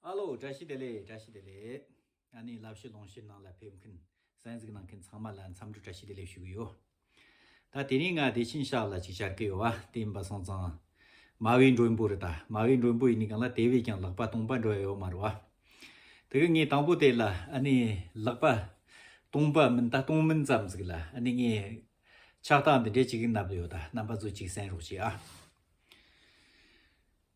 ཨ་ལོ་བཀྲ་ཤིས་བདེ་ལེགས་བཀྲ་ཤིས་བདེ་ལེགས། ཨ་ནེའི་བསླབ་གཞི་ལོངས་ཤིག་ནང་ལ་ཕེབས་མཁན་གསན་གཟིགས་གནང་མཁན་ཚང་མ་ལ་འཚམས་འདྲི་བཀྲ་ཤིས་བདེ་ལེགས་ཞུ་གི་ཡོད། ད་དེ་རིང་ང་བདེ་ཆེན་ཤག་ལ་ཅིག་བཅར་གི་ཡོད་བ་བསྟན་པ་སོང་ཙང། མ་བའི་མགྲོན་པོ་རེད་ད་མ་བའི་མགྲོན་པོ་ཡིན་ནི་གང་ལ་དེ་བས་ཀྱང་ལག་པ་སྟོང་པ་འགྲོ་ཡ་ཡོད་མ་རེད་བ། དེ་གི་ངས་དང་པོ་དེ་ལ་ཨ་ནེའི་ལག་པ་སྟོང་པ་མིན་ད་སྟོང་མིན་ཙམ་ཟིག་ལ་ཨ་ནེ་ངས་ཕྱག་རྟགས་འདི་འདྲའི་ཅིག་གི་ནབ་ལ་ཡོད་ད་རྣམ་པ་ཚོས་ཅིག་གསན་རོགས་གྱིས་ཨ།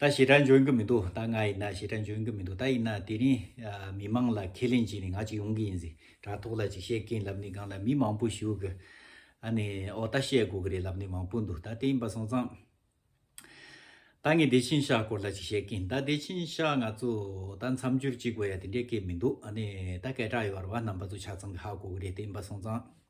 ད་ཞེ་དྲག་འཇོན་གི་མི་འདུག་ད་ང་ཡིན་ན་ཞེ་དྲག་འཇོན་གི་མི་འདུག་ད་ཡིན་ན་དེ་རིང་མི་དམངས་ལ་ཁས་ལེན་བྱས་ནས་ང་ཅིག་ཡོང་གི་ཡིན་ཟེར་དྲ་ཐོག་ལ་ཅིག་བཤད་མཁན་ལབ་ནི་སྒང་ལ་མི་མང་པོ་ཞུགས་གི་ཨ་ནི་ཨོ་ད་བཤད་དགོས་གི་རེད་ལབ་ནི་མང་པོ་འདུག་ད་དེ་ཡིན་པ་སོང་ཙང་ད་ངས་བདེ་ཆེན་ཤག་སྐོར་ལ་ཅིག་བཤད་གིན་ད་བདེ་ཆེན་ཤག་ང་ཚོ་ད་མཚམས་སྦྱོར་ཅིག་དགོས་ཡ་དེ་འདྲའི་སྐད་མི་འདུག་ཨ་ནི་ད་སྐད་གྲགས་ཡོད་པར་བ་རྣམ་པ་ཚོ་ཆ་ཚང་གི་ཧ་གོ་གི་རེད་དེ་ཡིན་པ་སོང་ཙང།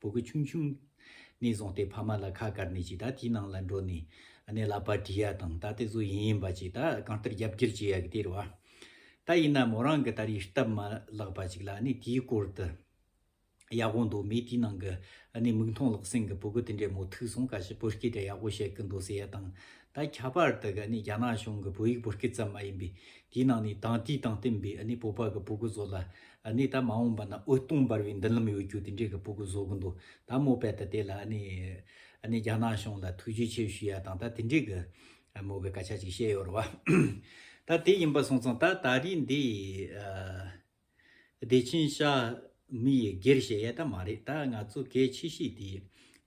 བུ་གུ་ཆུང་ཆུང། ནས་བཟུང་སྟེ་ཕ་མ་ལ་ཁ་བཀར་ནས་ཅིག་ད་དེའི་ནང་ལ་འགྲོ་ནས། གནས་ལ་པར་བྲིས་ཡ་དང་ད་དེ་བཟོ་ཡིན་ཡིན་པ་ཅིག་ད་གང་ལྟར་རྒྱབ་འགྱུར་བྱེད་ཡ་གི་དེར་བ། ད་ཡིན་ན་མོ་རང་གི་ད་རེས་སྟབས་མ་བརླག་པ་ཅིག་ལ་གནས་དེའི་སྐོར་དུ། ཡག་པོ་འདུག་མོས་དེའི་ནང་གི་གནས་མིག་མཐོང་ལག་ཟིན་གི་བུ་གུ་དེ་འདྲའི་མོ་ཐུག་སོང་ཁ་ཤས་བོད་སྐད་དྲ་ཡག་པོ་བཤད་གི་འདུག་ཟེར་ཡ་དང་ད་ཁྱད་པར་དུ་གི་གནས་རྒྱ་ནག་གཞུང་གི་བོད་ཡིག་བོད་སྐད་ཙམ་མ་ཡིན་པའི་དེའི་ནང་ནས་དང་དུས་དང་བསྟུན་པའི་གནས་བོད་པ་གི་བུ་གུ་ཚོ་ལ་ནས་ད་མ་འོངས་པ་ན་ཨུ་སྟོང་འབར་བའི་མདུན་ལམ་ཡོད་རྒྱུ་དེ་འདྲའི་གི་སྤོ་གི་བཟོ་གི་འདུག་ད་མོ་པད་ད་དེ་ལ་ཨ་ནི་ཨ་ནི་རྒྱ་ནག་གཞུང་ལ་ཐུགས་རྗེ་ཆེ་ཞུ་ཡ་དང་ད་དེ་འདྲའི་གི་མོ་གི་སྐད་ཆ་ཅིག་བཤད་ཡོད་ར་བ། ད་དེ་ཡིན་པ་སོང་ཙང་ད་ད་རིས་འདི་བདེ་ཆེན་ཤ་མི་ཡི་སྒེར་བྱེད་ཡ་ད་མ་རེད་ད་ང་ཚོ་གལ་ཆེ་ཤོས་དེ་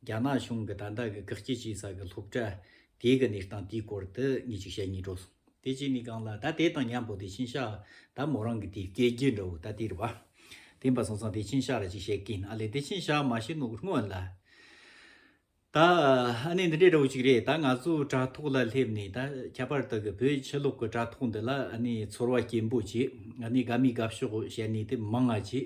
རྒྱ་ནག་གཞུང་གི་ད་ད་གི་དགག་བསྐྱེད་བྱེད་ས་གི་སློབ་གྲྭ་དེ་གི་གནས་སྟངས་དེའི་སྐོར་དུ་ངས་ཅིག་བཤད་ངེས་འགྲོ་སོང། དེ་བཞིན་ནི་གང་ལགས་ད་དེ་དང་མཉམ་པོ་དེ་བཞིན་གཤེགས་ད་མོ་རང་གི་དེ་སྐད་རྒྱས་འདྲ་བོ་ད་དེར་བ། དེ་འབའ་སོང་ཙང་དེ་བཞིན་གཤེགས་ལ་ཅིག་བཤད་ཀྱིན་ཨ་ལས་དེ་བཞིན་གཤེགས་མ་བཞིན་ནོ་གུར་སྔོན་ལ། ད་ཨ་ནི་འདི་འདྲའི་འདྲ་བོ་ཅིག་རེད་ད་ང་ཚོའི་དྲ་ཐོག་ལ་སླེབས་ནས་ད་ཁྱད་པར་དུ་གི་བོད་ཕྱི་ལོག་གི་དྲ་ཐོག་འདི་ལ་ཨ་ནི་ཚོར་བ་སྐྱེན་པོ་ཅིག་ཨ་ནི་དགའ་མི་དགའ་ཕྱོགས་བཤད་ནས་དེ་མང་ཨ་ཅིག་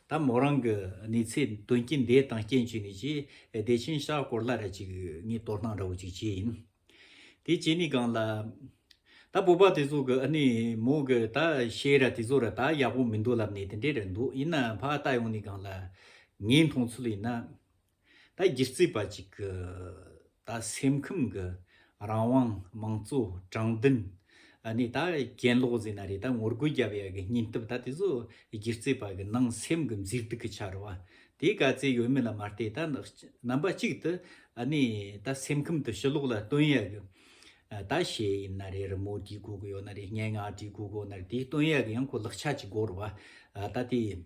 ད་མོ་རང་གི་ནི་ཚེ་དོན་གྱི་འདས་དང་སྐྱེ་མཆེད་ནི་ཅི། བདེ་ཆེན་ཤར་སྐོར་ལྷ་ར་ཅིག་ནི་གཏོར་སྣང་འདྲ་བོ་ཅིག་བྱས་ཡིན། དེ་བྱས་ནི་གང་ལ། ད་སྤོབས་པ་དེ་ཚོ་གི་ནི་མོ་གི་ད་བཤད་ར་དེ་ཚོ་ར་ད་ཡག་པོ་མི་འདུག་ལབ་ནི་དེ་འདྲས་ར་འདུག་ཡིན་ནའང་ཕ་ད་ཡོང་ནི་གང་ལ། ངའི་མཐོང་ཚུལ་ཡིན་ན། ད་སྒྱུ་རྩལ་པ་གཅིག་གི་ད་སེམས་ཁམས་ཀྱི་རང་དབང་དམངས་གཙོ་དྲང་བདེན་ནི་ད་གྱེན་ལོག་ཟིན་ན་རེད་ད་ངོ་རྒོལ་རྒྱབ་ཡ་གི་སྙིང་སྟོབས་ད་དེ་ཚོ་སྒྱུ་རྩལ་པ་གི་ནང་སེམས་ཀྱི་མཛེས་སྡུག་གི་ཆར་བ་དེ་ག་ཚད་ཡོད་མེད་ལ་མ་བལྟས་ད་རྣམ་པ་གཅིག་ཏུ་ནི་ད་སེམས་ཁམས་དུ་ཕྱི་ལོག་ལ་སྟོན་ཡ་གི་ད་ཤེས་ཡིན་ན་རེད་རི་མོ་བྲིས་དགོས་གི་ཡོད་ན་རེད་སྙན་ངག་བྲིས་དགོས་གི་ཡོད་ན་རེད་དེ་སྟོན་ཡ་གི་ཡང་ཁོ་ལག་ཆ་གཅིག་བགོར་བ་ད་དེ།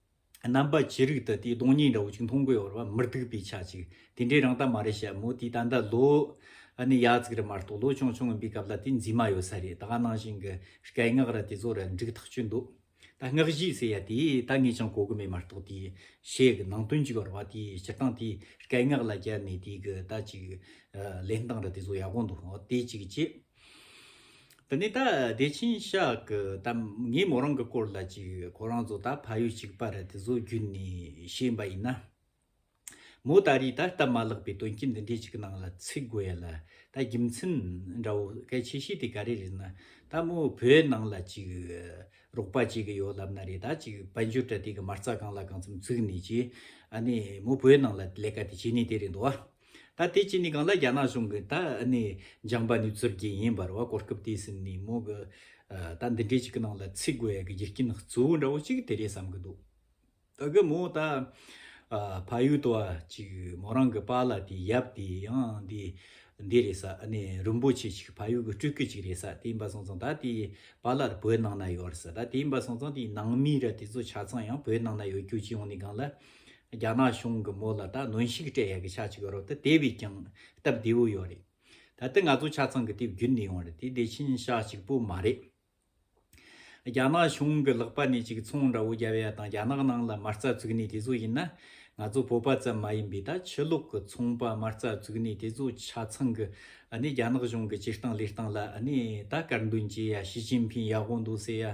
རྣམ་པ་ཇི་རིགས་དུ་དེའི་སྟོང་ཉིད་འདྲ་བོ་ཅིག་མཐོང་དགོས་བར་བར་མི་སྡུག་པའི་ཆ་ཅིག་དེ་འདྲའི་རང་ལྟ་མ་རེད་བཤད་མོད་དེའི་ད་ལྟ་ལོ་ནི་ཡ་གཅིག་རེ་མ་གཏོགས་ལོ་ཅུང་ཆུང་ངུ་འབའི་སྐབས་ལ་དེ་འཛིན་མ་ཡོད་ས་རེད་ད་ག་ནང་བཞིན་གྱི་སྐད་སྔགས་ར་དེ་ཚོ་ར་འགྲིག་ཐག་ཆོད་འདུག་ད་སྔགས་བཞི་ཟེར་ཡ་དེ་ད་ངས་ཀྱང་གོ་གི་མེད་མ་གཏོགས་དེའི་ཞེས་གི་ནང་དོན་གྱི་བར་བ་དེའི་སྤྱིར་བཏང་དེའི་སྐད་སྔགས་ལ་རྒྱབ་ནས་དེའི་གི་ད་ཅིག་ལེན་སྟངས་ར་དེ་ཚོ་ཡག་པོ་འདུག་དེ་ཅིག་གཅིག། དེ་ནས་ད་བདེ་ཆེན་ཤག་གི་ད་ངས་མོ་རང་གི་སྐོར་ལ་ཅིག་ཁོ་རང་ཚོ་ད་ཕ་ཡུལ་གཅིག་པ་རེད་དེ་ཚོ་བརྒྱུད་ནས་ཤེས་པ་ཡིན་ན། མོ་ད་རེས་ད་སྟབས་མ་བརླག་པའི་དོན་རྐྱེན་འདི་འདྲའི་ཅིག་གི་ནང་ལ་ཚུད་དགོས་ཡ་ལ་ད་རྒྱུ་མཚན་འདྲ་བོ་གལ་ཆེ་ཤོས་དེ་ག་རེ་རེད་ན་ད་མོ་བོད་ནང་ལ་ཅིག་རོགས་པ་བྱེད་གི་ཡོད་ལབ་ན་རེད་ད་ཅིག་དཔལ་འབྱོར་དྲ་སྟེགས་གི་མ་རྩ་གང་ལ་གང་འཚམ་བཙུགས་ནས་ཅིག་ཨ་ནེ་མོ་བོད་ནང་ལ་ལས་ཀ་དེ་བྱེད་ནས་དེ་རེད་འདུག་བ། ད་དེ་གཅིག་ནི་གང་ལ་རྒྱ་ནག་གཞུང་གིས་ད་ནི་སྦྱངས་པ་ནི་རྩོད་ཀྱི་ཡིན་པར་བ་གོ་སྐབས་དེ་ཟིན་ནས་མོ་གི། ད་འདི་འདྲའི་ཅིག་གི་ནང་ལ་ཚིག་དགོས་ཡ་གི་རྒྱུ་རྐྱེན་གཙོ་བོ་འདྲ་བོ་ཅིག་དེ་རེད་བསམ་གི་འདུག་ད་གི་མོ་ད། ཕ་ཡུལ་དུ་བ་ཅིག་མོ་རང་གི་པ་ལ་དེ་ཡབ་དེ་ཡང་འདི། འདི་རེད་ས་ནི་རིན་པོ་ཆེ་ཅིག་ཕ་ཡུལ་གི་སྤྲུལ་སྐུ་ཅིག་རེད་ས་དེ་ཡིན་པ་སོང་ཙང་ད་དེ་པ་ལར་བོད་ནང་ན་ཡོད་རེད་ས་ད་དེ་ཡིན་པ་སོང་ཙང་དེའི་ནང་མི་ར་དེ་ཚོ་ཆ་ཚང་ཡང་བོད་ནང་ན་ཡོད་རྒྱུ་ཅི་ཡོང་ནི་གང་ལ། རྒྱ་ནག་གཞུང་གི་མོ་ལ་ད་གནོན་ཤུགས་སྤྲད་ཡག་གི་ཆ་ཅིག་ཡོད་རོགས་ད་དེ་བས་ཀྱང་སྟབས་བདེ་བོ་ཡོད་རེད་ད་ལྟ་ང་ཚོ་ཆ་ཚང་གི་དེབ་བརྒྱུད་འདི་ཡོང་རེད་དེ་བདེ་ཆེན་ཤག་ཅིག་པོ་མ་རེད། རྒྱ་ནག་གཞུང་གི་ལག་པ་ནས་ཅིག་ཚོང་འདྲ་བོ་རྒྱབ་ཡ་དང་རྒྱ་ནག་ནང་ལ་མ་རྩ་བཙུགས་ནས་དེ་ཚོ་ཡིན་ན་ང་ཚོ་བོད་པ་ཙམ་མ་ཡིན་པའི་ད་ཕྱི་ལོག་གི་ཚོང་པ་མ་རྩ་བཙུགས་ནས་དེ་ཚོ་ཆ་ཚང་གི་རྒྱ་ནག་གཞུང་གི་སྤྱིར་བཏང་ལས་སྟངས་ལ་ད་དཀར་འདོན་བྱེད་ཡ་ཞི་ཅིན་ཕིན་ཡག་པོ་འདུག་ཟེར་ཡ་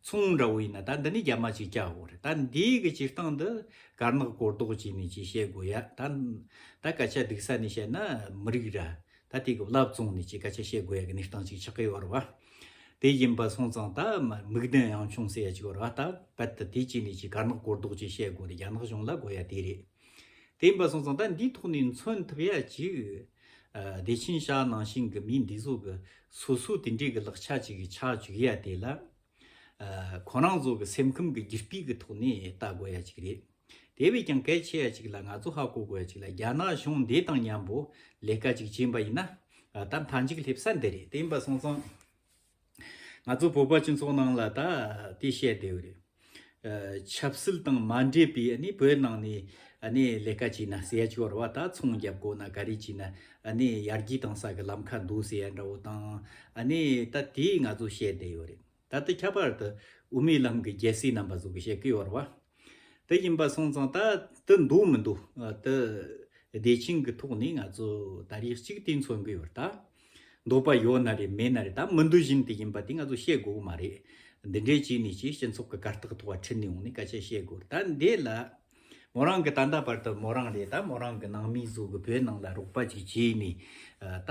མཚུངས་འདྲ་བོ་ཡིན་ན་ད་འདི་ནས་རྒྱ་མ་ཅིག་བསྐྱལ་དགོས་རེད་ད་འདིའི་གི་སྤྱིར་བཏང་འདི་དཀར་ནག་གོ་ལྡོག་ཅིག་ནས་ཅིག་བཤད་དགོས་ཡ་ད། ད་སྐད་ཆ་སྡུག་ས་ནས་བཤད་ན་མི་རིགས་ར་ད་དེ་གི་བླ་བཙོང་ནས་ཅིག་སྐད་ཆ་བཤད་དགོས་ཡ་གི་གནས་སྟངས་ཅིག་ཆགས་ཀི་ཡོད་རེད་བ། དེ་བཞིན་པ་སོང་ཙང་ད་མིག་ལྡན་ཡང་ཆུང་ཟེར་ཡ་ཅིག་ཡོད་རེད་བ་ད་གལ་ཏེ་དེ་ཅིག་ནས་ཅིག་དཀར་ནག་གོ་ལྡོག་ཅིག་བཤད་དགོས་རེད་རྒྱ་ནག་གཞུང་ལ་དགོས་ཡ་དེ་རེད། དེ་ཡིན་པ་སོང་ཙང་ད་འདིའི་ཐོག་ནས་མཚོན་ཐུབ་ཡ་ཅིག། བདེ་ཆེན་ཤག་ནང་བཞིན་གྱི་མི་འདི་ཚོ་གི་སོ་སོའི་དེ་འདྲའི་གི་ལག་ཆ་ཅིག་གི་ཆགས་བཅུག་ཡ་དེ་ལ། ཁོ་རང་ཚོ་གི་སེམས་ཁམས་གི་རྒྱུ་སྤུས་གི་ཐོག་ནས་ལྟ་དགོས་ཡ་ཅིག་རེད། དེ་བས་ཀྱང་གལ་ཆེ་ཡ་ཅིག་ལ་ང་ཚོ་ཧ་གོ་དགོས་ཡ་ཅིག་ལ་རྒྱ་ནག་གཞུང་འདི་དང་མཉམ་པོ་ལས་ཀ་ཅིག་བྱེད་པ་ཡིན་ན། ད་མཐའ་མཇུག་སླེབས་ས་འདི་རེད་དེ་ཡིན་པ་སོང་ཙང། ང་ཚོ་བོད་པ་སྤྱི་ཚོགས་ནང་ལ་ད་དེ་བཤད་དེ་རེད། ཆབ་སྲིད་དང་མ་འདྲེས་པའི་ནི་བོད་ནང་ནས་ནི་ལས་ཀ་བྱས་ན་ཟས་ཤོར་བ་ད་ཚོང་བརྒྱབ་དགོས་ན་ག་རེ་བྱས་ན་ནི་ཡར་རྒྱས་གཏང་ས་གི་ལམ་ཁ་འདུག་ཟེར་ཡ་འདྲ་བོ་དང་ནི་ད་དེ་ང་ཚོ་བཤད་དེ་ཡོད་རེད། ད་ལྟ་ཁྱད་པར་དུ་དབུ་མའི་ལམ་གི་རྒྱལ་སྲས་རྣམ་པ་ཚོ་གི་བཤད་ཀི་ཡོད་རེད་བ། དེ་ཡིན་པ་སོང་ཙང་ད་དུ་འདུག་མི་འདུག་དེ་བདེ་ཆེན་གྱི་ཐོག་ནས་ང་ཚོ་ད་རེས་གཅིག་དེ་འཚོལ་དགོས་པར་ད་འདོད་པ་ཡོད་ན་རེད་མེད་ན་རེད་ད་མི་འདུག་བཞིན་དུ་ཡིན་པ་དེ་ང་ཚོ་བཤད་དགོས་གི་མ་རེད། འདི་འདྲས་བྱས་ནས་ཀྱི་སྤྱི་ཚོགས་ཀྱི་གར་སྟེགས་ཐོག་ཁྲིད་ནས་འོང་ནས་སྐད་ཆ་བཤད་དགོས་ད་འདི་ལ་མོ་རང་གི་ད་ལྟ་བར་དུ་མོ་རང་རེད་ད་མོ་རང་གི་ནང་མི་ཟུག་གི་བོད་ནང་ལ་རོགས་པ་ཅིག་བྱས་ནས་ད་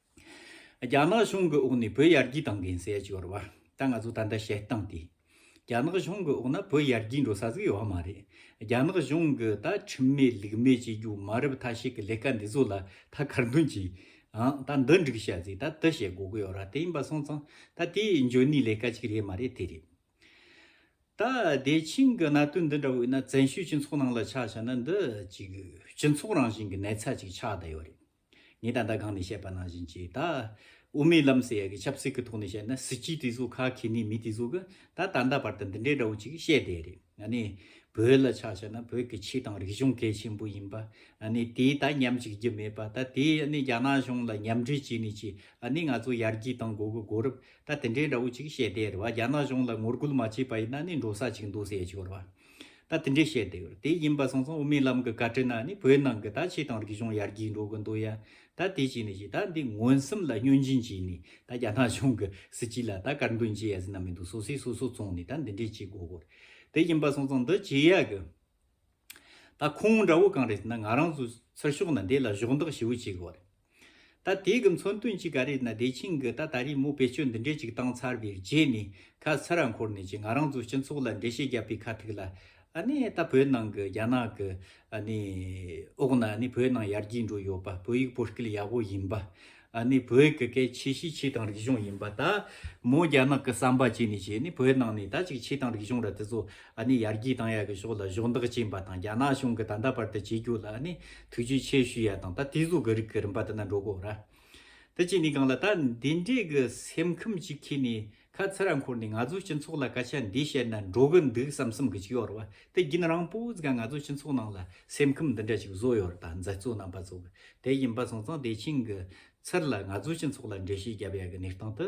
རྒྱ་ནག་གཞུང་གི་འོག་ནས་བོད་ཡར་རྒྱས་གཏང་མཁན་ཟས་སྤྱོར་བ་ད་ང་ཚོ་ད་ལྟ་བཤད་སྟངས་དེ། རྒྱ་ནག་གཞུང་གི་འོག་ན་བོད་ཡར་རྒྱས་འགྲོ་ས་ཟིག་ཡོད་མ་རེད། རྒྱ་ནག་གཞུང་གི་ད་ཁྲིམས་མེད་ལུགས་མེད་བྱེད་རྒྱུ་མ་རབས་ཐ་ཤིག་གི་ལས་ཀ་འདི་ཚོ་ལ་ད་གར་མདུན་གྱིས། ཨང་ད་འདི་འགྲིག་བཤད་ཟིག་ད་དི་བཤད་དགོས་ཀི་ཡོད་ར་དེ་ཡིན་པ་སོང་ཙང་ད་དེ་འཇོན་ནི་ལས་ཀ་ཅིག་རེད་མ་རེད་དེ་རེད། ད་བདེ་ཆེན་གི་གནད་དོན་འདི་འདྲ་བོ་ཡིན་ན་བཙན་བྱོལ་སྤྱི་ཚོགས་ནང་ལ་ཆགས་བྱས་ན་འདི་ཅིག་སྤྱི་ཚོགས་རང་བཞིན་གི་ནད་ཚ་ཅིག་ཆགས་ད་ཡོད་རེད། ངས་ད་ལྟ་སྒང་ནས་བཤད་པ་ནང་བཞིན་གྱིས་ད། དབུ་མའི་ལམ་ཟེར་ཡ་གི་ཆབ་སྲིད་ཀྱི་ཐོག་ནས་བཤད་ན་སྲིད་སྤྱིའི་གྲིས་སུ་ཁ་ཁྱེར་ནས་མི་གྲིས་སུ་གི་ད་ད་ལྟ་བར་དུ་འདི་འདྲའི་འདྲ་བོ་ཅིག་བཤད་བསྡད་རེད་ང་ནི། བོད་ལ་ཆ་བཤད་ན་བོད་ཀྱི་ཆིག་དང་རིག་གཞུང་གལ་ཆེན་པོ་ཡིན་པ། ཨ་ནི་དེས་ད་ཉམས་ཅིག་རྒྱུ་མེད་པ་ད་དེས་ཨ་ནི་རྒྱ་ནག་གཞུང་ལ་ཉམས་འཕྲི་བྱས་ནས་ཀྱིས་ཨ་ནི་ང་ཚོ་ཡར་རྒྱས་དང་འགོ་གི་དགོས་རབས་ད་དེ་འདྲའི་འདྲ་བོ་ཅིག་བཤད་བསྡད་རེད་བ་རྒྱ་ནག་གཞུང་ལ་ངོ་རྒོལ་མ་བྱས་པ་ཡིན་ན་ཨ་ནི་འགྲོ་ས་ཅིག་འདུག་ཟེར་ཡ་ཆོག་རེད་བ། ད་དེ་འདྲའི་བཤད་བསྡད་ཡོད་དེ་ཡིན་པ་སོང་སོང་དབུ་མའི་ལམ་གི་བཀའ་ཁྲི་ན་ནི་བོད་ནང་གི་ད་ཆེ་དང་རིག་གཞུང་ཡར་རྒྱས་འགྲོ་གི་འདུག་ཡ་ད་དེ་བྱས་ནས་བྱས་ད་འདི་ངོན་སུམ་ལ་སྙོན་འབྱིན་བྱས་ནས་ད་རྒྱ་ནག་གཞུང་གི་སྲིད་སྤྱི་ལ་ད་དཀར་འདོན་བྱས་ཡ་ཟི་ན་མི་འདུག་སོ་སོས་སོ་སོ་བཙོང་ནས་ད་འདི་འདྲའི་བྱེད་དགོས་གོ་དེ་ཡིན་པ་སོང་སོང་འདི་བྱེད་ཡ་གི་ད་ཁོང་འདྲ་བོ་གང་རེད་ཟི་ན་ང་རང་ཚོའི་ཚུར་ཤོག་ན་འདི་ལ་གཞོག་འདེགས་ཞེ་བོ་བྱེད་དགོས་རེད། ད་དེ་གི་མཚོན་དོན་གཅིག་ག་རེད་ན་བདེ་ཆེན་གི་ད་ད་རེས་མོ་བེད་སྤྱོད་འདི་འདྲས་ཅིག་བཏང་ཚར་བའི་རྗེས་ནས་ཁ་ཚ་ར་འཁོར་ནས་ཅིག་ང་རང་ཚོ་སྤྱི་ཚོགས་ལ་འགྲེལ་བཤད་རྒྱབ་པའི་ཁ་ཐུག་ལ་ཨ་ནི་ད་བོད་ནང་གི་རྒྱ་ནག་གི་ཨ་ནི་འོག་ན་ཨ་ནི་བོད་ནང་ཡར་རྒྱས་འགྲོ་ཡོད་པ་བོད་ཡིག་བོད་སྐད་ཡག་པོ་ཡིན་པ་ཨ་ནི་བོད་གི་སྐད་ཆེ་ཤེས་ཆེ་དང་རིག་གཞུང་ཡིན་པ་ད་མོ་རྒྱ་ནག་གི་བསམ་པ་བྱས་ནས་ཅིག་ཨ་ནི་བོད་ནང་ནས་ད་ཅིག་ཆེ་དང་རིག་གཞུང་ར་དེ་ཚོ། ཨ་ནི་ཡར་རྒྱས་གཏང་ཡག་གི་ཕྱོགས་ལ་གཞོགས་འདེགས་བྱེད་པ་དང་རྒྱ་ནག་གཞུང་གི་ད་ལྟ་བར་དུ་བྱེད་རྒྱུ་ལ་ཨ་ནི་ཐུགས་རྗེ་ཆེ་ཞུ་ཡག་དང་ད་དེ་གཟུགས་གི་རིགས་གི་རིམ་པ་དེ་ན་འགྲོ་དགོས་ར། དེ་བྱས་ནས་གང་ལ་ད་འདི་འདྲའི་གི་སེམས་ཁམས་ཅིག་ཁྱེད་ནས་ཁ་ཚི་ར་འཁོར་ནས་ང་ཚོའི་སྤྱི་ཚོགས་ལ་སྐད་ཆ་འདི་བཤད་ན་འགྲོ་གི་འདུག་བསམ་བསམ་གི་ཅིག་ཡོད་ར་བ་དེ་བརྒྱུན་རང་སྤུ་ཙི་ག་ང་ཚོའི་སྤྱི་ཚོགས་ནང་ལ་སེམས་ཁམས་འདི་འདྲ་ཅིག་བཟོ་ཡོད་ར་ད་མཛད་གཙོ་རྣམ་པ་ཚོ་གི་དེ་ཡིན་པ་སོང་ཙང་དེ་ཕྱིན་གི་ཚུར་ལ་ང་ཚོའི་སྤྱི་ཚོགས་ལ་འགྲེལ་བཤད་བརྒྱབ་ཡག་གི་གནས་སྟངས་དེ་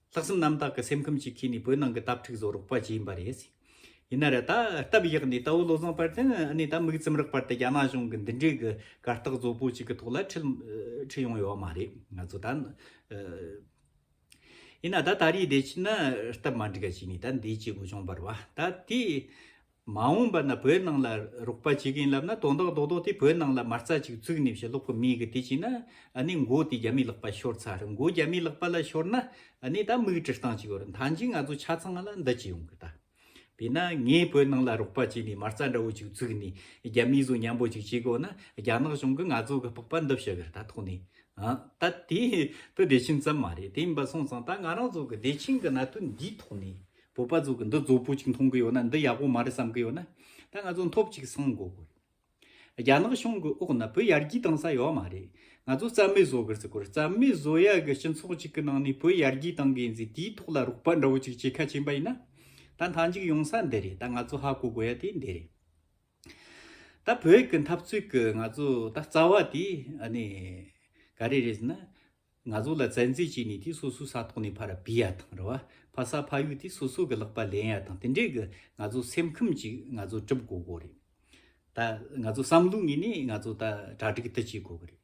ལྷག་བསམ་རྣམ་དག་གི་སེམས་ཁམས་ཀྱིས་ཁེངས་ནས་བོད་ནང་གི་སྟབས་འཁྲིག་བཟོ་རོགས་པ་བྱས་ཡིན་པ་རེད། ཡིན་ན་ར་ད་སྟབས་ཡག་ནས་དྭོ་བློ་བཟང་པར་དེན་ཨ་ནེ་ད་མིག་ཙིམ་རག་པར་དེ་རྒྱ་ནག་གཞུང་གི་འདི་འདྲའི་གི་གར་སྟགས་བཟོ་པོ་ཅིག་གི་ཐོག་ལ་ཁྲིད་ཁྲིད་ཡོང་ཡོད་བ་མ་རེད་ང་ཚོ་ད། ཡིན་ན་ད་ད་རེའི་བདེ་སྐྱིད་ན་སྟབས་མ་འགྲིག་ག་བྱས་ནས་ད་འདིའི་སྐྱེ་དགུ་བྱུང་བར་བ་ད་དེ། མ་འོངས་པ་ན་བོད་ནང་ལ་རོགས་པ་བྱེད་མཁན་ལབ་ན་དོན་དག་རྡོག་རྡོག་དེ་བོད་ནང་ལ་མ་རྩ་ཅིག་བཙུགས་ནས་བཞིན་ལོག་གི་མི་གི་དེ་བྱས་ན་ནི་མགོ་དེ་རྒྱ་མིའི་ལག་པ་ཤོར་ཚར་མགོ་རྒྱ་མིའི་ལག་པ་ལ་ཤོར་ན་ནི་ད་མིག་དྲི་སྟངས་ཅིག་ཡོད་རེད་མཐའ་མཇུག་ང་ཚོ་ཆ་ཚང་ལ་འདི་ཅིག་ཡོང་གི་ད་བས་ན་ངས་བོད་ནང་ལ་རོགས་པ་བྱས་ནས་མ་རྩ་འདྲ་བོ་ཅིག་བཙུགས་ནས་རྒྱ་མིའི་བཟོ་ཉམས་པོ་ཅིག་བྱེད་དགོས་ན་རྒྱ་ནག་གཞུང་གི་ང་ཚོ་གི་སྤག་པ་འདི་བཤུ་གི་ད་ཐོག་ནས་ད་དེ་བོད་བདེ་ཆེན་ཙམ་མ་རེད་དེ་མིན་པ་སོང་ཙང་ད་ང་རང་ཚོ་གི་བདེ་ཆེན་གི་གནད་དོན་འདིའི་ཐོག་ནས་བོད་པ་ཚོ་གི་འདི་བཟོ་པོ་ཅིག་མཐོང་གི་ཡོད་ན་འདི་ཡག་པོ་མ་རེད་བསམ་གི་ཡོད་ན་ད་ང་ཚོ་འཐོབ་ཅིག་སང་དགོ་གི་རེད་རྒྱ་ནག་གཞུང་གི་འོག་ན་བོད་ཡར་རྒྱས་གཏང་ས་ཡོད་མ་རེད་ང་ཚོ་རྩ་མེད་བཟོ་གི་རེད་རྩ་མེད་བཟོ་ཡག་གི་སྤྱི་ཚོགས་ཅིག་གི་ནང་ནས་བོད་ཡར་རྒྱས་གཏང་གི་ཡིན་ཚེ་དེའི་ཐོག་ལ་རོགས་པ་འདྲ་བོ་ཅིག་བྱེད་ཁ་ཆེན་པ་ཡིན་ན་ད་མཐའ་མཇུག་ཡོང་ས་འདི་རེད་ད་ང་ཚོ་ཧ་གོ་དགོ་ཡ་དེ་འདི་རེད་ད་བོད་གི་འཐབ་རྩོད་གི་ང་ཚོ་ད་རྩ་བ་དེ་ག་རེ་རེད་ཟེར་ན། ང་ཚོ་ལ་བཙན་འཛུལ་བྱས་ནས་དེ་སོ་སོའི་ས་ཐོག་ནས་ཕར་སྦས་ཡ་དང་རུ་བ་ཕར་ས་ཕར་གཡུག་སྟེ་སོ་སོ་གི་ལག་པ་ལེན་ཡ་དང་དེ་འདྲའི་གི་ང་ཚོ་སེམས་ཁམས་ཅིག་ང་ཚོ་སྒྲུབ་དགོས་དགོས་རེད། ད་ང་ཚོ་བསམ་བློ་ངེས་ནས་ང་ཚོ་ད་གྲ་སྒྲིག་ཏུ་བྱེད་དགོས་གི་རེད།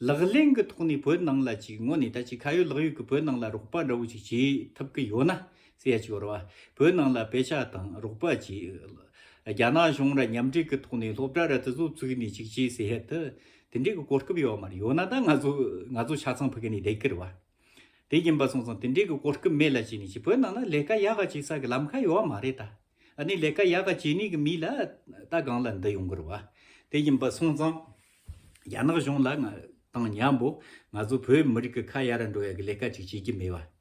ལག་ལེན་གི་ཐོག་ནས་བོད་ནང་ལ་ཅིག་ངོ་ནས་ད་ཅིག་ཁ་ཡོད་ལག་ཡོད་གི་བོད་ནང་ལ་རོགས་པ་འདྲ་བོ་ཅིག་བྱེད་ཐུབ་གི་ཡོད་ན་ཟེར་ཡ་ཅིག་རུ་བ་བོད་ནང་ལ་དཔེ་ཆ་དང་རོགས་པ་བྱེད། རྒྱ་ནག་གཞུང་ར་མཉམ་འབྲེལ་གི་ཐོག་ནས་སློབ་གྲྭ་ར་དེ་ཚོ་བཙུགས་ནས་ཅིག་བྱེད་ཟེར་ཡ་དེ་དེ་འདྲའི་གི་གོ་སྐབས་ཡོད་མ་རེད་ཡོད་ན་ད་ང་ཚོ་ང་ཚོ་ཆ་ཚང་ཕི་གི་ནས་དེ་ཀིར་བ། དེ་ཡིན་པ་སོང་ཙང་དེ་འདྲའི་གི་གོ་སྐབས་མེད་ལ་བྱས་ནས་བྱས་བོད་ནང་ན་ལས་ཀ་ཡག་ག་བྱས་ས་གི་ལམ་ཁ་ཡོད་མ་རེད་ད། ཨནི་ལས་ཀ་ཡག་ག་བྱས་ནས་གི་མི་ལ་ད་སྒང་ལ་འདི་ཡོང་གིར་བ། དེ་ཡིན་པ་སོང་ཙང་རྒྱ་ནག་གཞུང་ལ་ང་དང་མྱང་པོ་ང་ཚོ་བོད་མི་རིགས་གི་ཁ་ཡར་འགྲོ་ཡག་གི་ལས་ཀ་ཅིག་བྱས་ཀི་མེད་བ།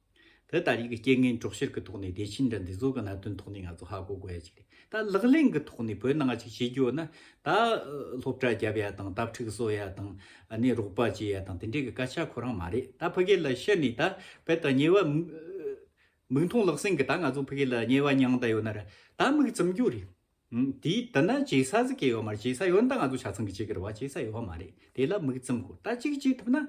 དེ་ལྟ་ཡི་གི་རྐྱེན་ངན་གྲོགས་བཤེར་གི་ཐོག་ནས་བདེ་ཆེན་འདྲ་འདི་ཚོ་གི་གནད་དོན་ཐོག་ནས་ང་ཚོ་ཧ་གོ་དགོས་ཡ་གཅིག་རེད་ད་ལག་ལེན་གི་ཐོག་ནས་བོད་ནང་ང་གཅིག་བྱེད་རྒྱུ་ཡོད་ན་ད་སློབ་གྲྭ་རྒྱབ་ཡ་དང་དབ་ཁྲིག་བཟོ་ཡ་དང་ནས་རོགས་པ་བྱེད་ཡ་དང་དེ་འདྲའི་གི་སྐད་ཆ་ཁོ་རང་མ་རེད་ད་ཕ་གི་ལ་ཤི་ནས་ད་བད་ད་ཉེ་བ་མིག་མཐོང་ལག་ཟིན་གི་ད་ང་ཚོ་ཕ་གི་ལ་ཉེ་བ་མྱང་ད་ཡོད་ན་ར་ད་མིག་བཙུམ་རྒྱུ་རེད་དེ་ད་ན་བྱེད་ས་ཟིག་གི་ཡོད་མ་རེད་བྱེད་ས་ཡོད་ན་ད་ང་ཚོ་ཆ་ཚང་གི་བྱེད་གི་ར་བ་བྱེད་ས་ཡོད་བ་མ་རེད་དེ་ལ་མིག་བཙུམ་དགོས་ད་གཅིག་བྱེད་ཐུབ་ན།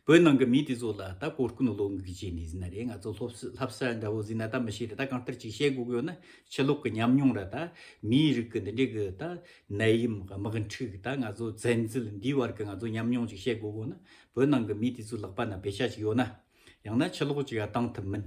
བོད་ནང་གི་མི་དེ་ཚོ་ལ་ད་གོ་སྐོན་བློ་འགུག་བྱས་ནས་ཟིན་ན་རེད་ང་ཚོ་ལྷོ་བསིལ་ལྷ་བསལ་འདྲ་བོ་ཟིན་ན་ད་མི་ཤེས་རེད་ད་གང་ལྟར་ཅིག་བཤད་དགོས་གི་ཡོད་ན་ཕྱི་ལོག་གི་ཉམས་མྱོང་ར་ད་མིའི་རིགས་ཀྱི་འདི་འདྲའི་གི་ད་ནད་ཡིམ་དམག་འཁྲུག་ད་ང་ཚོ་བཙན་འཛུལ་འདིའི་བར་གི་ང་ཚོ་ཉམས་མྱོང་ཅིག་བཤད་དགོས་གི་ཡོད་ན་བོད་ནང་གི་མི་དེ་ཚོའི་ལག་པ་ན་བེ་ཤ་ཅིག་ཡོད་ན་ཡང་ན་ཕྱི་ལོག་ཅིག་ག་བཏང་ཐུབ་མིན།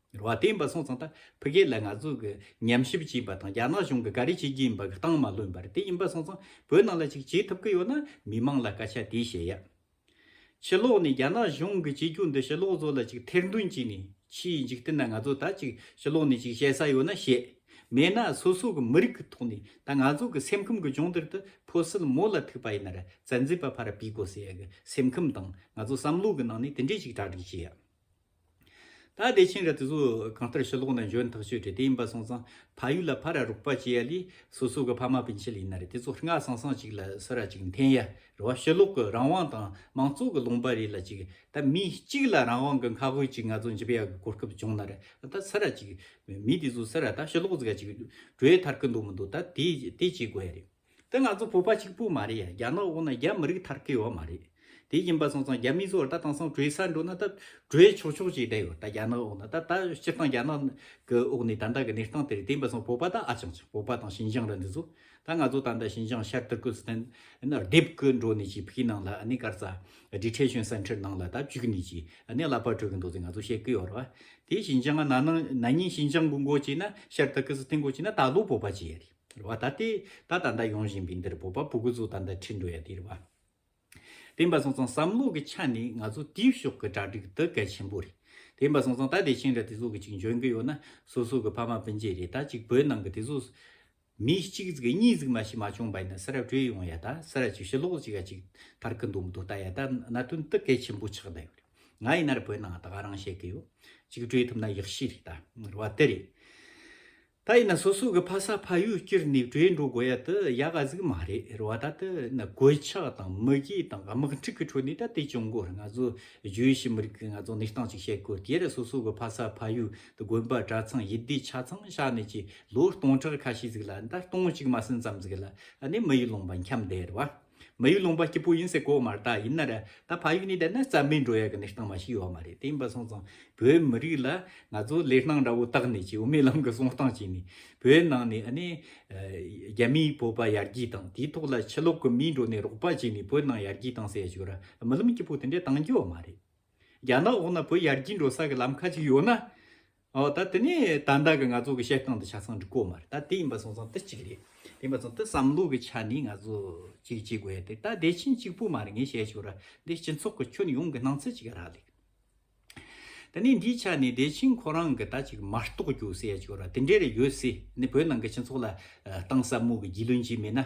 ར་བ་དེ་འབའ་སོང་ཙང་ད་ཕི་རྒྱལ་ལ་ང་ཚོ་གི་ཉམས་ཞིབ་བྱེད་པ་དང་རྒྱ་ནག་གཞུང་གི་ག་རེ་བྱེད་ཀྱིན་པ་གི་སྟངས་མ་ལོན་པར་དེ་ཡིན་པ་སོང་ཙང་བོད་ནང་ལ་ཅིག་བྱེད་ཐུབ་ཀི་ཡོད་ན་མི་མང་ལ་སྐད་ཆ་དེ་བཤད་ཡ། ཕྱི་ལོག་ནས་རྒྱ་ནག་གཞུང་གི་བྱེད་རྒྱུ་འདི་ཕྱི་ལོག་ཚོ་ལ་ཅིག་ཐེར་འདོན་བྱེད་ནས་ཕྱིའི་འཇིག་རྟེན་ན་ང་ཚོ་ད་ཅིག་ཕྱི་ལོག་ནས་ཅིག་བཤད་ས་ཡོད་ན་བཤད། མེད་ན་སོ་སོ་གི་མི་རིགས་གི་ཐོག་ནས་ད་ང་ཚོ་གི་སེམས་ཁམས་གི་ལྗོངས་དེར་ད་ཕོ་སིལ་མོ་ལ་ཐུག་པ་ཡིན་ན་ར་བཙན་འཛུལ་པ་ཕར་བུས་དགོ་ཟེར་ཡ་གི་སེམས་ཁམས་དང་ང་ཚོ་བསམ་བློ་གི་ནང་ནས་དེ་འདྲས་ཅིག་གྲ་སྒྲིག་བྱེད་ཡ། ད་བདེ་ཆེན་གྱི་དུས་སུ་གང་ལྟར་ཕྱི་ལོགས་ན་འབྱོན་ཐག་ཆོད་དྲི་དེ་ཡིན་པ་སོང་ཙང་ཕ་ཡུལ་ལ་ཕ་ར་རུག་པ་བྱེད་ཡ་ལི་སོ་སོ་གི་ཕ་མ་ཕན་ཆད་ཡིན་ན་རེ་དེ་ཚོ་སྔ་སང་སང་ཅིག་ལ་སོ་ར་ཅིག་འཐེན་ཡ་རེ་བ་ཕྱི་ལོགས་གི་རང་དབང་དང་མང་གཙོ་གི་ལུང་པ་རེ་ལ་ཅིག་ད་མི་གཅིག་ལ་རང་དབང་གི་མཁའ་དབུས་ཅིག་ང་ཚོ་འཇིབ་ཡ་གི་གོ་སྐབས་བྱུང་ན་རེ་ད་སོ་ར་ཅིག་མི་དེ་ཚོ་སོ་ར་ད་ཕྱི་ལོགས་ཟིག་ག་ཅིག་བྲོས་ཐར་གི་འདུག་མི་འདུག་ད་དེ་དེ་བྱེད་དགོས་ཡ་རེད། དེ་ང་ཚོ་བོད་པ་གཅིག་པུ་མ་རེད་ཡ་རྒྱ་ནག་འོག་ན་རྒྱ་མི་རིགས་ཐར་ཁེ་ཡོད་མ་རེད། དེ་ཡིན་པ་སོང་ཙང་རྒྱ་མི་ཚོ་ད་དེང་སང་གྲོས་སར་འགྲོ་ན་ད་གྲོས་ཆོག་ཆོག་ཅིག་བསྡད་ཡོད་ད་རྒྱ་ནག་འོག་ན་ད་ད་སྤྱིར་བཏང་རྒྱ་ནག་གི་འོག་ནས་ད་ལྟ་གི་གནས་སྟངས་དེ་རེད་དེ་ཡིན་པ་སོང་བོད་པ་ད་ཨ་ཅང་ཅིག་བོད་པ་དང་ཞིན་ཅང་ར་འདི་ཚོ་ད་ང་ཚོ་ད་ད་ཞིན་ཅང་ཤར་ཏུར་ཀུན་སི་ཐན་ནར་སྡེབ་ཀི་འགྲོ་ནས་ཅིག་ཕིག་ནང་ལ་ཨ་ནི་སྐར་རྩ་སྒྲིག་ཁྲེ་ཞོན་སེན་ཐྲེར་ནང་ལ་ད་བཅུག་ནས་ཅིག་ཨ་ནི་གླ་པ་བྲོས་ཀི་འདུག་ཟེར་ང་ཚོ་བཤད་ཀི་ཡོད་རེད་བ། དེ་ཞིན་ཅང་ན་ན་ནིང་ཞིན་ཅང་གི་མགོ་བྱས་ན་ཤར་ཏུར་ཀུན་སི་ཐན་མགོ་བྱས་ན་ད་ལོ་བོད་པ་བྱེད་ཡ་རེད། དེར་བ་ད་སྟེ་ད་ད་ད་ཡོང་བཞིན་པའི་འདིར་བོད་པ་པོ་དགུ་ཚོ་ད་ད་ཁྲིད་འགྲོ་ཡ་དེར་བ། དེ་འབའ་སོང་ཙང་བསམ་བློ་གི་ཆ་ནས་ང་ཚོ་དེའི་ཕྱོགས་ཀྱི་གྲ་སྒྲིག་དེ་གལ་ཆེན་པོ་རེད། དེ་འབའ་སོང་ཙང་ད་དེ་ཕྱིན་ལ་དེ་ཚོ་གི་ཅིག་འཇོན་གི་ཡོད་ན་སོ་སོ་གི་ཕ་མ་སྤུན་མཆེད་རེད་ད་ཅིག་བོད་ནང་གི་དེ་ཚོ་མི་གཅིག་གཟིགས་གཉིས་གཟིགས་མ་ཤི་མ་བྱུང་བ་ཡིན་ན་སེ་ར་བྲོས་ཡོང་ཡ་ད་སེ་ར་ཅིག་ཕྱི་ལོགས་ཅིག་ག་ཅིག་ཐར་གི་འདུག་མི་འདུག་ད་ཡ་ད་གནད་དོན་དེ་གལ་ཆེན་པོ་ཆགས་ད་ཡོད་རེད། ང་ཡིན་ནར་བོད་ནང་ད་ག་རང་བཤད་གི་ཡོད། ཅིག་བྲོས་ཐུབ་ན་ཡག་ཤི་རེད་ད་ར་བ་དེ་རེད། ད་ཡིན་ན་སོ་སོ་གི་ཕ་ས་ཕ་ཡུལ་སྐྱིར་ནས་བྲོས་འགྲོ་དགོས་ཡ་དེ་ཡ་ག་ཟིག་མ་རེད་རེད་བ་ད་དེ་ན་གོད་ཆག་དང་མི་དགེ་དང་དམག་འཁྲུག་གི་ཁྲོད་ནས་ད་དེ་བྱུང་དགོས་རེད་ང་ཚོ་བརྗོད་ཤི་མི་རིགས་ང་ཚོ་གནས་སྟངས་ཅིག་བཤད་དགོས་དེ་ཡར་སོ་སོ་གི་ཕ་ས་ཕ་ཡུལ་དེ་དགོན་པ་གྲྭ་ཚང་ཡི་དེ་ཆ་ཚང་ཤ་ནས་ཀྱི་ལོ་སྟོང་ཕྲག་ཁ་ཤས་ཟིག་ལ་ད་སྟོང་གཅིག་མ་ཟིན་ཙམ་ཟིག་ལ་ནས་མི་ཡུལ་ལོངས་པ་འཁྱམས་བསྡད་རེད་བ། མ་ཡིག་ལུང་པ་སྐྱིད་པོ་ཡིན་ཟེར་གོ་མར་དག་ཡིན་ན་ར་ད་ཕ་ཡིག་ནི་བསྡད་ན་རྩ་མེད་འགྲོ་ཡ་གི་ནི་སྟངས་མ་ཞིག་ཡོད་མ་རེད་དེ་ཡིན་པ་སོང་ཙང་བོད་མི་རིགས་ལ་ང་ཚོ་ལས་སྣང་འདྲ་བོ་བཏགས་ནས་ཀྱི་འོ་མའི་ལམ་གི་སོང་སྟངས་ཀྱི་ནི་བོད་ནང་ནས་ཨ་ནི་རྒྱ་མིའི་བོད་པ་ཡར་རྒྱས་དང་དེའི་ཐོག་ལ་ཕྱི་ལོག་གི་མིའི་འགྲོ་ནས་རོགས་པ་བྱས་ནས་བོད་ནང་ཡར་རྒྱས་བཏང་ཟེར་ཡ་ཞིག་ར་རྨི་ལམ་སྐྱིད་པོ་དེ་འདྲས་བཏང་རྒྱུ་ཡོད་མ་རེད་རྒྱ་ནག་འོག་ན་བོད་ཡར་རྒྱས་འགྲོ་ས་གི་ལམ་ཁ་ཅིག་ཡོད་ན་ཨོ་ད་དེ་ནས་ད་ལྟ་གི་ང་ཚོ་གི་བཤད་སྟངས་དང་ཆ་ཚང་འགྲིག་གོ་མ་རེད་ད་དེ་ཡིན་པ་སོང་ཙང་དེ་གཅིག་རེད་དེ་ཡིན་པ་སོང་དེ་བསམ་བློ་གི་ཆ་ནས་ང་ཚོ་གཅིག་བྱེད་དགོས་ཡ་དེ་ད་བདེ་ཆེན་གཅིག་པུ་མ་རེད་ངས་བཤད་ཆོག་ར་འདི་སྤྱི་ཚོགས་གི་ཁྱོན་ཡོངས་གི་སྣང་ཚུལ་གཅིག་ར་ལེ། ད་ནས་འདིའི་ཆ་ནས་བདེ་ཆེན་ཁོ་རང་གི་ད་གཅིག་མ་རྟོགས་རྒྱུ་བཤད་ཆོག་ར་དེ་འདྲའི་རེ་ཡོད་སྲིད་ནི་བོད་ནང་གི་སྤྱི་ཚོགས་ལ་གཏང་ཟབ་མོ་གི་རྒྱུས་ལོན་བྱས་མེད་ན་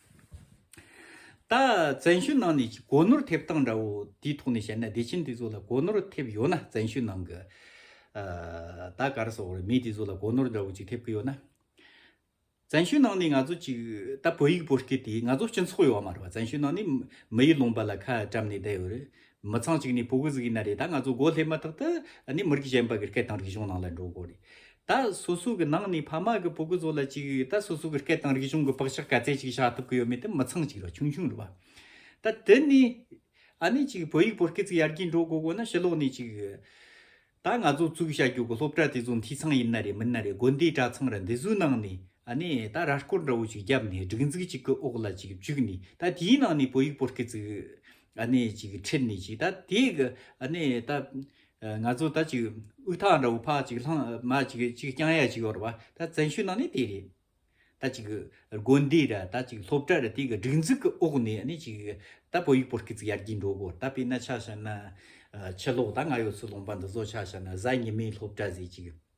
ད་བཙན་ཤོད་ནང་ནས་གོ་ནོར་ཐེབས་སྟངས་འདྲ་བོ་དེའི་ཐོག་ནས་བཤད་ན་བདེ་ཆེན་དེ་ཚོ་ལ་གོ་ནོར་ཐེབས་ཡོད་ན་བཙན་ཤོད་ནང་གི་ད་གར་སོགས་རེད་མི་དེ་ཚོ་ལ་གོ་ནོར་འདྲ་བོ་ཅིག་ཐེབས་ཀྱི་ཡོད་ན། བཙན་ཤོད་ནང་ནས་ང་ཚོ་ཅིག་ད་བོད་ཡིག་བོད་སྐད་དེ་ང་ཚོ་སྤྱི་ཚོགས་ཡོད་མ་རེད་པ་བཙན་ཤོད་ནང་ནས་མི་ཡིག་ལུང་པ་ལ་ཁ་བཀྲམ་ནས་བསྡད་ཡོད་རེད་མི་ཚང་ཅིག་ནས་བོད་གོ་ཟིག་ཡིན་ན་རེད་ད་ང་ཚོ་གོ་སླེབས་མ་ཐག་ཏུ་ནས་མི་རིགས་གཞན་པ་གི་སྐད་དང་རིག་གཞུང་ནང་ལ་འགྲོ་དགོས་རེད། ད་སོ་སོ་གི་ནང་ནས་ཕ་མ་གི་བུ་གུ་ཚོ་ལ་གཅིག་ད་སོ་སོ་གི་སྐད་དང་རིག་གཞུང་གི་བག་ཆགས་ག་ཚད་ཅིག་བཞག་ཐུབ་གི་ཡོད་མེད་དེ་མི་ཚང་ཅིག་རོ་ཆུང་ཆུང་རུ་བ། ད་དེ་ནས་ཨ་ནེ་ཅིག་བོད་ཡིག་བོད་སྐད་ཚིག་ཡར་རྒྱས་འགྲོ་དགོས་དགོས་ན་ཕྱི་ལོག་ནས་ཅིག་ད་ང་ཚོ་བཙུགས་བྱ་རྒྱུ་གི་སློབ་གྲྭ་དེ་ཚོ་འཐུས་ཚང་ཡིན་ན་རེད་མིན་ན་རེད་དགོན་སྡེའི་གྲྭ་ཚང་ར་འདི་ཚོའི་ནང་ནས་ཨ་ནེ་ད་ར་སྐོར་འདྲ་བོ་ཅིག་བརྒྱབ་ནས་སྒྲིག་འཛུགས་གཅིག་གི་འོག་ལ་ཅིག་བཅུག་ནས་ད་དེའི་ནང་ནས་བོད་ཡིག་བོད་སྐད་ཚིག་ཨ་ནེ་ཅིག་ཁྲིད་ནས་ཅིག་ད་དེ་གི་ཨ་ནེ་ད། ང་ཚོ་ད་ཅིག་དབུགས་ཐག་འདྲ་བོ་ཕག་ཅིག་ལྷང་མ་ཅིག་ཅིག་རྐྱང་ཡ་ཅིག་ཡོད་རེད་བ་ད་བཙན་བྱོལ་ནང་ནས་དེ་རེད། ད་ཅིག་དགོན་སྡེ་ར་ད་ཅིག་སློབ་གྲྭ་ར་དེ་གི་སྒྲིག་འཛུགས་ཀི་འོག་ནས་ནི་ཅིག་ད་བོད་ཡིག་པོ་ཀི་ཅིག་ཡར་རྒྱས་འགྲོ་གོ་ད་དཔེ་ན་ཆ་བྱ་ན། ཕྱི་ལོག་ད་ང་ཡོད་ཚུལ་ལོང་པ་འདི་བཟོ་ཆ་བྱ་ན་གཟའ་ཉི་མའི་སློབ་གྲྭ་ཟེ་ཅིག།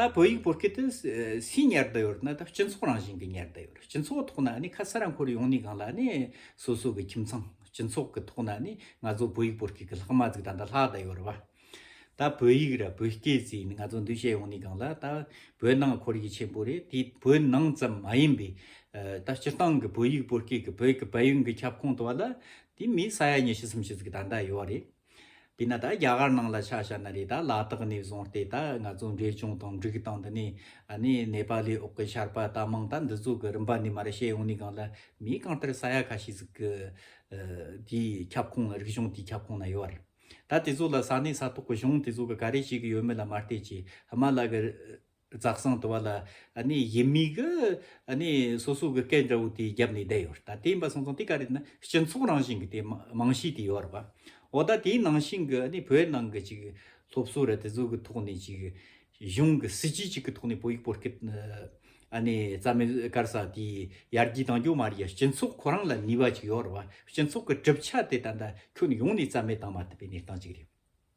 ད་བོད་ཡིག་བོད་སྐད་དུ་སུའི་ཉར་བསྡད་ཡོད་ན་ད་སྤྱི་ཚོགས་རང་བཞིན་གྱི་ཉར་བསྡད་ཡོད་སྤྱི་ཚོགས་ཐོག་ན་ནི་ཁ་ས་ར་འཁོར་ཡོང་ནི་གང་ལ་ནི་སོ་སོ་གི་ཁྱིམ་ཚང་སྤྱི་ཚོགས་ཀྱི་ཐོག་ན་ནི་ང་ཚོ་བོད་ཡིག་བོད་སྐད་ཀྱི་ལྷག་མ་ཚིག་དང་ད་ལྷག་བསྡད་ཡོད་རེད་བ། ད་བོད་ཡིག་ར་བོད་སྐད་ཚིག་ནི་ང་ཚོ་འདུས་བྱས་ཡོང་ནི་གང་ལ་ད་བོད་ནང་འཁོར་ཡིག་ཆེན་པོ་རེད་དེ་བོད་ནང་ཙམ་མ་ཡིན་པའི་ད་སྤྱིར་བཏང་གི་བོད་ཡིག་བོད་སྐད་ཀྱི་བོད་ཀྱི་བལ་ཡུལ་གྱི་ཁྱབ་ཁོངས་དུ་བ་ལ་དེ་མི་ས་ཡ་ཉེར་བཞི་སུམ་བཅུ་ཚིག་གི་ད་ད་ཡོད་རེད། དེས་ན་ད་རྒྱ་གར་ནང་ལ་ཆ་ཤར་ན་རེད་ད་ལ་དྭགས་ནས་བཟུང་སྟེ་ད་ང་ཚོ་འབྲས་ལྗོངས་དང་འབྲུག་དང་འདི་ནས་ནེ་པ་ལའི་འོག་གི་ཆར་པ་ད་མང་ད་འདི་ཚོ་གི་རིམ་པ་ནས་མ་རེད་བཤད་ཡོང་ནས་གང་ལ་མིའི་གང་ལྟར་ས་ཡ་ཁ་ཤས་ཟིག་གི་དེའི་ཁྱབ་ཁོངས་རིག་གཞུང་དེའི་ཁྱབ་ཁོངས་ན་ཡོད་རེད་ད་དེ་ཚོ་ལ་ས་གནས་ས་ཐོག་གི་གཞུང་དེ་ཚོ་གི་ག་རེ་བྱེད་གི་ཡོད་མེད་ལ་མ་བལྟས་ཀྱི་དམའ་ལ་གི་རྫ་གསང་དུ་བ་ལ་ཡིད་མིག་གི་སོ་སོ་གི་སྐད་འདྲ་བོ་དེ་བརྒྱབ་ནས་བསྡད་ཡོད་རེད་ད་དེ་ཡིན་པ་སོང་ཙང་དེ་ག་རེད་ན་སྤྱི་ཚོགས་རང་བཞིན་གྱི་དེ་རྨང་གཞི་དེ་ཡོད་རེད་པ་འོ་ད་དེའི་ནང་བཞིན་གྱི་བོད་ནང་གི་ཅིག་སློབ་གསོ་ར་དེ་ཚོ་གི་ཐོག་ནས་ཅིག་གཞུང་གི་སྲིད་ཇུས་ཅིག་གི་ཐོག་ནས་བོད་ཡིག་བོད་སྐད་རྩ་མེད་བཀར་ས་དེ་ཡར་རྒྱས་གཏང་རྒྱུ་མ་རེད་ཡ་སྤྱི་ཚོགས་ཁོ་རང་ལ་ནུས་པ་ཅིག་ཡོད་རེད་པ་སྤྱི་ཚོགས་གི་གྲུབ་ཆ་དེ་ད་ལྟ་ཁྱོན་ཡོངས་ནས་རྩ་མེད་བཏང་མ་ཐུབ་པའི་གནས་སྟངས་ཅིག་རེད།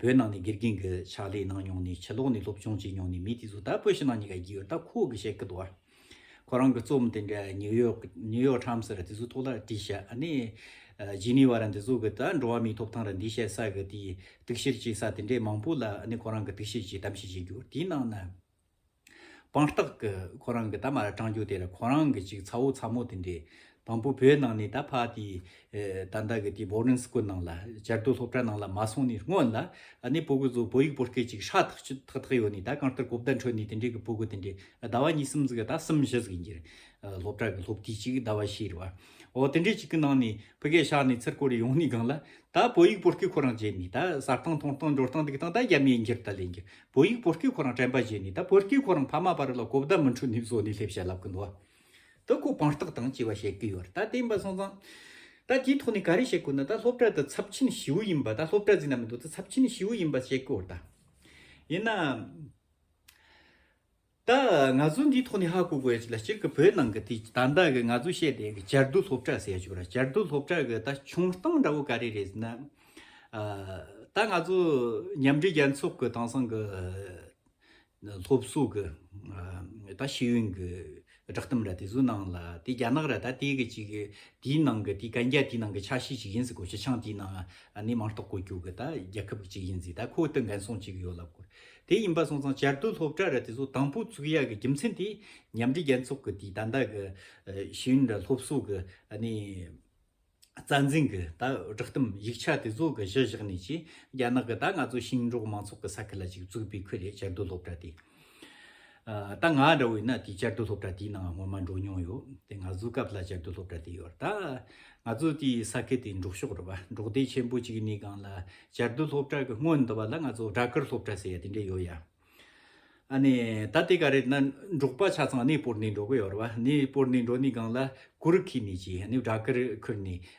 བོད་ནང་ནས་དགེ་རྒན་གྱི་ཕྱག་ལས་གནང་མྱོང་ནས་ཕྱི་ལོགས་ནས་སློབ་སྦྱོང་བྱས་མྱོང་ནས་མི་དེ་ཚོ་ད་བོད་ཕྱི་ནང་གཉིས་ཀ་བགྱིས་ཡོད་ད་ཁོ་གི་བཤད་ཀི་འདུག་ཨ། ཁོ་རང་གི་རྩོམ་དེ་འདྲ་ནིའུ་ཡོག New York Times ར་དེ་ཚོ་ཐོག་ལ་བྲིས་ཤག་ཨ་ནི། Geneva ར་འདི་ཚོ་གི་ད་འགྲོ་བ་མིའི་ཐོབ་ཐང་ར་འདི་བཤད་ས་གི་དེའི་གཏུག་བཤེར་བྱེད་ས་དེ་འདྲས་མང་པོ་ལ་ཨ་ནི་ཁོ་རང་གི་གཏུག་བཤེར་གྱིས་གཏམ་བཤད་བྱེད་རྒྱུ་དེའི་ནང་ན། དཔང་རྟགས་ཀྱི་ཁོ་རང་གི་ད་མ་ར་དྲང་རྒྱུ་དེ་ལ་ཁོ་རང་གི་ཅིག་ཚ་བོ་ཚ་མོ་དེ་འདྲས་དང་པོ་བོད་ནང་ནས་ད་ཕག་དེའི་ད་ཟླ་གི་དེའི boarding school ནང་ལ་སྦྱར་དུ་སློབ་གྲྭ་ནང་ལ་མ་སོང་ནས་སྔོན་ལ་ནས་བོད་གུ་ཚོ་བོད་ཡིག་བོད་སྐད་ཅིག་ཧྲ་ཐག་ཆུ་ཐག་ཐག་ཡོད་ནས་ད་གང་ལྟར་གོ་བརྡ་འཕྲོད་ནས་དེ་འདྲས་ཀྱི་བོད་གུ་དེ་འདྲས་ཟླ་བ་གཉིས་གསུམ་ཟིག་ད་གསུམ་བཞི་ཟིག་ཡིན་རྒྱུ་རེད་སློབ་གྲྭ་གི་སློབ་དུས་ཅིག་ཟླ་བ་བཞི་རེད་བ་འོ་དེ་འདྲས་ཅིག་གི་ནང་ནས་བོད་སྐད་ཤག་ནས་ཚུར་བསྐོར་རེ་ཡོང་ནས་གང་ལ་ད་བོད་ཡིག་བོད་སྐད་ཁོ་རང་བརྗེད་ནས་ད་ཟ་སྟངས་འཐུང་སྟངས་འབྱོར་སྟངས་འདུག་སྟངས་ད་རྒྱ་མིའི་འགྱུར་ད་ལས་འགྱུར་བོད་ཡིག་བོད་སྐད་ཁོ་རང་དྲན་པ་བཞིན་ནི་ད་བོད་སྐད་ཁོ་རང་ཕ་མ་པ་རི་ལ་གོ་བརྡ་མི་འཕྲོད་ནི་བཟོ་ནི་སླེབས་བྱ་ལབ་གི་འདུག་བ། ད་ཁོ་དཔང་རྟགས་དང་བཅས་པ་བྱེད་ཀི་ཡོད་རེད་ད་བསྟན་པ་སོང་ཙང། ད་དེའི་ཐོག་ནས་ག་རེ་བྱེད་དགོས་ན་ད་སློབ་གྲྭ་དེ་ཚབས་ཆེན་བྱིའུ་ཡིན་པ་ད་སློབ་གྲྭ་རྫིག་ན་མི་འདུག་ད་ཚབས་ཆེན་བྱིའུ་ཡིན་པ་བྱེད་ཀི་ཡོད་རེད་ད། ཡིན་ནའང། ད་ང་ཚོ་འདིའི་ཐོག་ནས་ཧ་གོ་དགོས་ལ་སྤྱིར་གི་བོད་ནང་གི་དེ་ད་ལྟ་གི་ང་ཚོ་བཤད་བསྡད་གི་བྱར་བསྡུ་སློབ་གྲྭ་ཟེར་ཡ་ཆུག་ར་བྱར་བསྡུ་སློབ་གྲྭ་གི་ད་བྱུང་སྟངས་འདྲ་བོ་ག་རེ་རེད་ཟེར་ན། ད་ང་ཚོ་མཉམ་འབྲེལ་རྒྱལ་ཚོགས་གི་དེང་སང་གི་སློབ་གསོ་གི་ད་ཤེས་ཡོན་གི་བསྒྲགས་གཏམ་ར་དེ་ཚོའི་ནང་ལ་དེ་རྒྱ་ནག་ར་ད་དེ་གི་ཅིག་དེའི་ནང་གི་དེ་གན་རྒྱ་དེའི་ནང་གི་ཆ་ཤས་ཅིག་ཡིན་ཟེར་གོ་སྤྱི་ཆིངས་དེའི་ནང་ནས་མང་རྟོགས་གོ་རྒྱུ་གི་ད་རྒྱལ་ཁབ་ཅིག་ཡིན་ཟེར་ད་ཁོ་དང་འགན་སྲུང་ཅིག་ཡོད་ལབ་དགོས། དེ་ཡིན་པ་སོང་ཙང་བྱར་དུ་སློབ་གྲྭ་ར་དེ་ཚོ་དང་པོ་བཙུགས་ཡག་གི་རྒྱུ་མཚན་དེ་མཉམ་འབྲེལ་རྒྱལ་ཚོགས་ཀྱི་དེ་ད་ལྟ་གི་གཞོན་ནུ་སློབ་གསོ་གི་རྩ་འཛིན་གྱི་ད་བསྒྲགས་གཏམ་ཡིག་ཆ་དེ་ཚོ་གི་གཞི་བཞག་ནས་ཀྱི་རྒྱ་ནག་གི་ད་ང་ཚོ་ཞིང་འབྲོག་མང་ཚོགས་ཀྱི་ས་ཁུལ་ལ་ཅིག་བཙུགས་པའི་ཁུལ་རེད་བྱར་དུ་སློབ་གྲྭ་དེ། ད་ང་འདྲ་བོ་ཡིན་ན་དེ་བསྐྱར་དུ་སློབ་གྲྭ་དེའི་ནང་སྔོན་མ་འགྲོ་མྱོང་ཡོད་དེ་ང་ཚོའི་སྐབས་ལ་བསྐྱར་དུ་སློབ་གྲྭ་དེ་ཡོད་ད་ང་ཚོ་དེའི་ས་ཁུལ་དེ་འབྲོག་ཕྱོགས་རེད་པ་འབྲོག་སྡེ་ཆེན་པོ་གཅིག་ནས་གང་ལ་བསྐྱར་དུ་སློབ་གྲྭ་གི་སྔོན་དུ་བ་ལ་ང་ཚོ་སྦྲ་གུར་སློབ་གྲྭ་ཟེར་ཡ་དེ་འདྲ་ཡོད་ཡ་ཨ་ནས་ད་དེ་ག་རེད་ན་འབྲོག་པ་ཆ་ཚང་གནས་སྤོར་ནས་འགྲོ་གི་ཡོད་རེད་པ་གནས་སྤོར་ནས་འགྲོ་ནས་གང་ལ་གུར་ཁུར་ནས་ཀྱི་ནས་སྦྲ་གུར་ཁུར་ནས་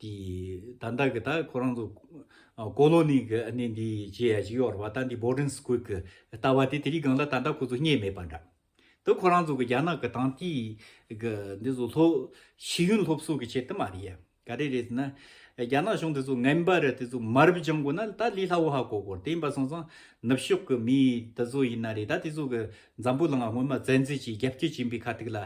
དེ་ད་ལྟ་གི་ད་ཁོ་རང་ཚོ་ཀོ་ལོ་ནི་གི་གནས་འདི་བྱས་ཡ་ཅིག་ཡོད་རེད་བ་ད་འདི Boarding School གི་ལྟ་བ་དེ་དེ་རིགས་གང་ལ་ད་ལྟ་ཁོ་ཚོ་རྙེད་མེད་པ་འདྲ། དེ་ཁོ་རང་ཚོ་གི་རྒྱ་ནག་གི་དང་དེ་གི་འདི་ཚོ་སློབ་ཤེས་ཡོན་སློབ་གསོ་གི་ཆེད་དུ་མ་རེད་ཡ། ག་རེ་རེད་ཟེར་ན། རྒྱ་ནག་གཞུང་དེ་ཚོ་ངན་པ་རེད་དེ་ཚོ་མར་བུ་སྦྱང་དགོས་ན་ད་ལི་ལྷ་བོ་ཧ་གོ་དགོས་རེད་དེ་ཡིན་པ་སོང་ཙང་ནུབ་ཕྱོགས་གི་མི་དེ་ཚོ་ཡིན་ན་རེད་ད་དེ་ཚོ་གི་འཛམ་བུ་ལ་ང་སྔོན་མ་བཙན་འཛུལ་གྱིས་རྒྱ་བསྐྱོད་བྱིན་པའི་ཁ་ཐུག་ལ་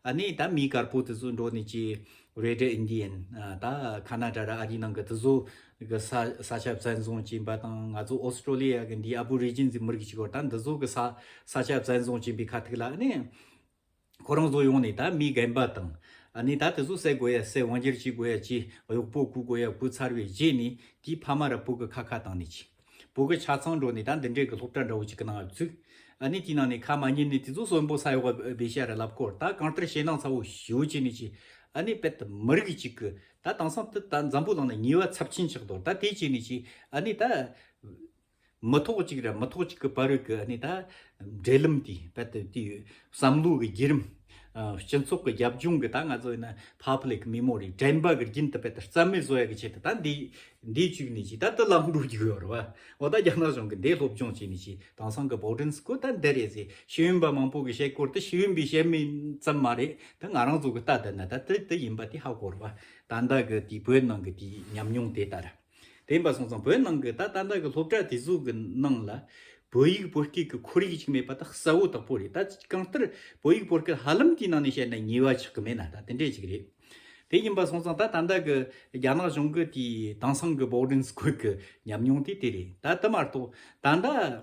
ཨ་ནི་ད་མི་དཀར་པོ་དེ་ཚོ་འགྲོ་ནས་ཀྱི་རེད་དྲ་ཨིན་དི་ཡན་ད་ཁ་ན་དྲ་ར་ཨ་རི་ནང་གི་དི་ཟོ་གི་ས་ས་ཆ་བཙན་བཟུང་བྱིན་པ་དང་ང་ཚོ་ཨོས་ཏྲོ་ལི་ཡ་གི་འདི་ཨ་བུ་རི་རྒྱན་ཟི་མི་རིགས་ཅིག་གོ་ད་འདི་ཟོ་གི་ས་ས་ཆ་བཙན་བཟུང་བྱིན་པའི་ཁ་ཐིག་ལ་ནི་ཁོ་རང་ཟོ་ཡོང་ནི་ད་མི་རྒན་པ་དང་ནི་ད་དི་ཟོ་སད་དགོས་ཡ་སད་དབང་སྒྱུར་བྱེད་དགོས་ཡ་ཅི་གཡོག་པོ་བཀུག་དགོས་ཡ་བཀུག་ཚར་བའི་རྗེས་ནི་དེའི་ཕ་མ་ར་བུ་གི་ཁ་ཁ་དང་ནི་ཅི། བོད་ཀྱི་ཆ་ཚང་འགྲོ་ནས་ད་འདི་འདྲའི་གི་སློབ་གྲྭ་འདྲ་བོ་ཅིག་གི་ནང་བཙུགས། ཨ་ནི་དེའི་ནང་ནས་ཁ་མ་ཉན་ནས་དེ་ཚོ་གསོན་པོ་ས་ཡོག་པ་བེ་ཤ་ར་ལབ་སྐོར་ད་གང་ལྟར་ཞེད་སྣང་ཚ་བོ་ཞུ་ཅི་ནས་ཅི། ཨ་ནི་དཔལ་དུ་མི་རིགས་ཅིག་གི་ད་དེང་སང་དུ་ད་འཛམ་བུའི་ལང་ན་ཉེས་བ་ཚབས་ཆེན་ཆགས་འདུག་ད་དེ་ཅི་ནས་ཅི། ཨ་ནི་ད། མི་ཐོག་ཅིག་ར་མི་ཐོག་ཅིག་གི་བར་རོད་གི་ཨ་ནི་ད། འབྲེལ་ལམ་དེ་དཔལ་དུ་དེ་ཡོད། བསམ་བློའི་བརྒྱུད་རིམ། སྤྱི་ཚོགས་ཀྱི་རྒྱབ་ལྗོངས་ཀྱི་ད་ང་ཚོ་ཡིན་ན Public Memory དྲན་པ་གྱི་རྒྱུན་དུ་དཔེ་ལྟར་རྩ་མེད་བཟོ་ཡག་གི་ཆེད་དུ་ད་འདི་འདི་བཅུག་ནས་ཀྱི་ད་དུ་ལམ་འགྲོ་རྒྱུ་ཡོད་རེད་བ། འོ་ད་རྒྱ་ནག་གཞུང་གིས་འདི་སློབ་སྦྱོང་བྱས་ནས་ཀྱི་དེང་སང་གི Boarding School ད་འདི་རེད་ཟེར་ཤེས་ཡོན་པ་མང་པོ་གི་བཤད་སྐོར་དུ་ཤེས་ཡོན་པའི་བཤད་མིན་ཙམ་མ་རེད་དེ་ང་རང་ཚོ་གི་ལྟ་དེ་ན་ད་དེ་དེ་ཡིན་པ་དེ་ཧ་གོ་རེད་བ། ད་ལྟ་གི་དེ་བོད་ནང་གི་དེ་ཉམས་མྱོང་དེ་ལྟར། དེ་ཡིན་པ་སོང་ཙང་བོད་ནང་གི་ད་ལྟ་འདའ་གི་སློབ་གྲྭ་དེ་ཚོ་གི་ནང་ལ་བོད་ཡིག་བོད་སྐད་ཀྱི་ཁོར་ཡིག་ཅིག་མེད་པ་ད་གསལ་བོ་དག་པོ་རེད་ད་གང་ལྟར་བོད་ཡིག་བོད་སྐད་ཧ་ལམ་དེའི་ནང་ནས་བཤད་ན་ཉེས་བ་ཆགས་གི་མེད་ན་ད་དེ་འདྲས་ཅིག་རེད། དེ་ཡིན་པ་སོང་ཙང་ད་ད་འདའ་གི་རྒྱ་ནག་གཞུང་གི་དེའི་དེང་སང་གི Boarding School གི་ཉམས་མྱོང་དེ་དེ་རེད་ད་དེ་མ་གཏོགས་ད་འདའ་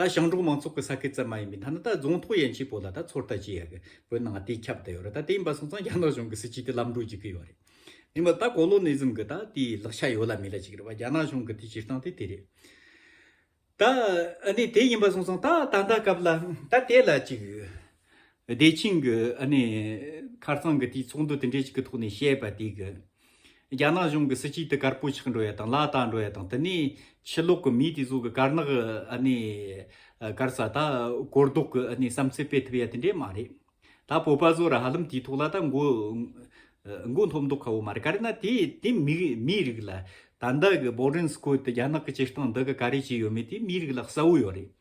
ད་ཞང་འབྲོག་མང་ཚོགས་ཀྱི་ས་ཁུལ་ཙམ་མ་ཡིན་པའི་མཐའ་ན་ད་རྫོང་ཐོག་ཡན་ཆད་པོ་ལ་ད་ཚོར་ལྟ་ཅི་ཡག་པོའི་ནང་དེ་ཁྱབ་བསྡད་ཡོད་རེད་ད་དེ་ཡིན་པ་སོང་ཙང་རྒྱ་ནག་གཞུང་གི་སྲིད་བྱུས་དེ་ལམ་འགྲོ་བགྱིད་ཀྱི་ཡོད་རེད་མིན་པར་ད་གོ་ལོ་ནི་ཟིམ་གྱི་ད་དེའི་ལག་ཆ་ཡོད་ལ་མེད་ལ་ཅིག་རེད་བ་རྒྱ་ནག་གཞུང་གི་དེ་སྤྱིར་བཏང་དེ་དེ་རེད་ད་ཨ་ནི་དེ་ཡིན་པ་སོང་ཙང་ད་ད་ལྟ་སྐབས་ལ་ད་དེ་ལ་ཅིག། བདེ་ཆེན་གྱི་ཁར་རྩང་གི་དུས་ཚོགས་འདུ་དེ་འདྲའི་ཞིག་གི་ཐོག་ནས་བཤད་པ་དེ་གི། རྒྱ་ནག་གཞུང་གི་སྲིད་སྤྱི་དེ་དཀར་པོ་ཆགས་འགྲོ་ཡ་དང་ལ་དྭགས་འགྲོ་ཡ་དང་དེ་ནས་ཕྱི་ལོག་གི་མི་དེ་ཚོ་གི་དཀར་ནག་དཀར་ས་ད་གོ་ལྡོག་གི་བསམ་ཚུལ་སྤེལ་ཐུབ་ཡ་དེ་འདྲའི་མ་རེད། ད་བོད་པ་ཚོ་ར་ཧ་ལམ་དེའི་ཐོག་ལ་ད་མགོ་འཐོམ་མདོག་ཁ་བོ་མ་རེད་ག་རེ་ན་དེ་དེ་མིའི་རིགས་ལ་ད་འདའ་གི་བོགས་རིན་སྐོར་དེ་རྒྱ་ནག་གི་སྤྱིར་བཏང་འདའ་གི་ག་རེ་བྱས་ཡོད་མེད་དེ་མིའི་རིགས་ལ་གསལ་བོ་ཡོད་རེད།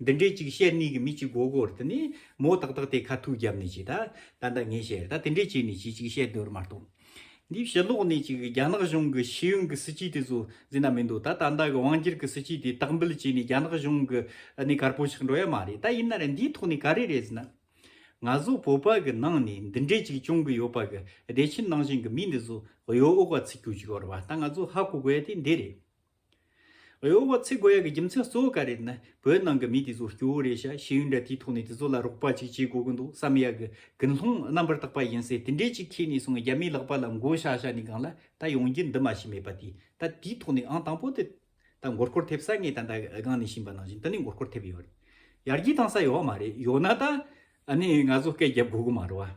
འདི་འདྲའི་ཅིག་ཤེས་གནས་ཀྱི་མི་གཅིག་གོ་གོ་རེད་ནི། མོ་ཏག་ཏག་དེ་ཁ་ཐུག་རྒྱབ་ནས་ཅིག་ད་ད་ད་ངས་བཤད་རེད་ད་དེ་འདྲས་བྱས་ནས་ཅིག་ཅིག་ཤེས་འདོད་མ་གཏོགས། འདིའི་ཕྱི་ལོགས་ནས་ཅིག་རྒྱ་ནག་གཞུང་གི་ཤེས་ཡོན་གྱི་སྲིད་ཇུས་དེ་ཚོ་འཛིན་ན་མི་འདུག་ད་ད་ད་གི་དབང་སྒྱུར་གྱི་སྲིད་ཇུས་དེ་དག་འབུལ་བྱས་ནས་རྒྱ་ནག་གཞུང་གི་ནས་དཀར་པོ་ཆགས་འགྲོ་ཡ་མ་རེད་ད་ཡིན་ན་རེ་འདིའི་ཐོག་ནས་ག་རེ་རེད་ཟེར་ན། ང་ཚོ་བོད་པ་གི་ནང་ནས་འདི་འདྲས་ཅིག་བྱུང་གི་ཡོད་པ་གི་བདེ་ཆེན་ནང་བཞིན་གྱི་མི་འདི་ཚོ་གཡོ་འོག་ག་ཚིག་རྒྱུག་ཅིག་བར་བ་ད་ང་ཚོ་ཧ་གོ་དགོས་ཡ་དེ་འདི་རེད། ཨེའོ་བ་ཚེ་དགོས་ཡག་གི་རྒྱུ་མཚན་གཙོ་བོ་ག་རེད་ན་བོད་ནང་གི་མི་དེ་ཚོ་སྐྱོ་བོ་རེད་ཤག་ཤེས་ཡོན་འདྲ་དེའི་ཐོག་ནས་དེ་ཚོ་ལ་རོགས་པ་ཅིག་བྱེད་དགོས་གི་འདུག་བསམ་ཡག་གི་ཀུན་སློང་རྣམ་པར་དག་པ་ཡིན་སའི་དེ་འདྲས་ཅིག་ཁྱེད་ནས་སོང་རྒྱ་མིའི་ལག་པ་ལ་མགོ་བཞག་བཞག་ནས་སྒང་ལ་ད་ཡོང་རྒྱུ་འདི་མ་ཤེས་མེད་པ་དེ་ད་དེའི་ཐོག་ནས་ཨང་དང་པོ་དེ་ད་མགོ་སྐོར་ཐེབས་ས་ངས་ད་ད་སྒང་ནས་བྱིན་པ་ནང་བཞིན་དེ་ནས་མགོ་སྐོར་ཐེབས་ཡོད་རེད་ཡར་རྒྱས་བཏང་ས་ཡོད་མ་རེད་ཡོད་ན་ད་ཨ་ནས་ང་ཚོ་སྐད་རྒྱབ་དགོས་གི་མ་རེད་བ།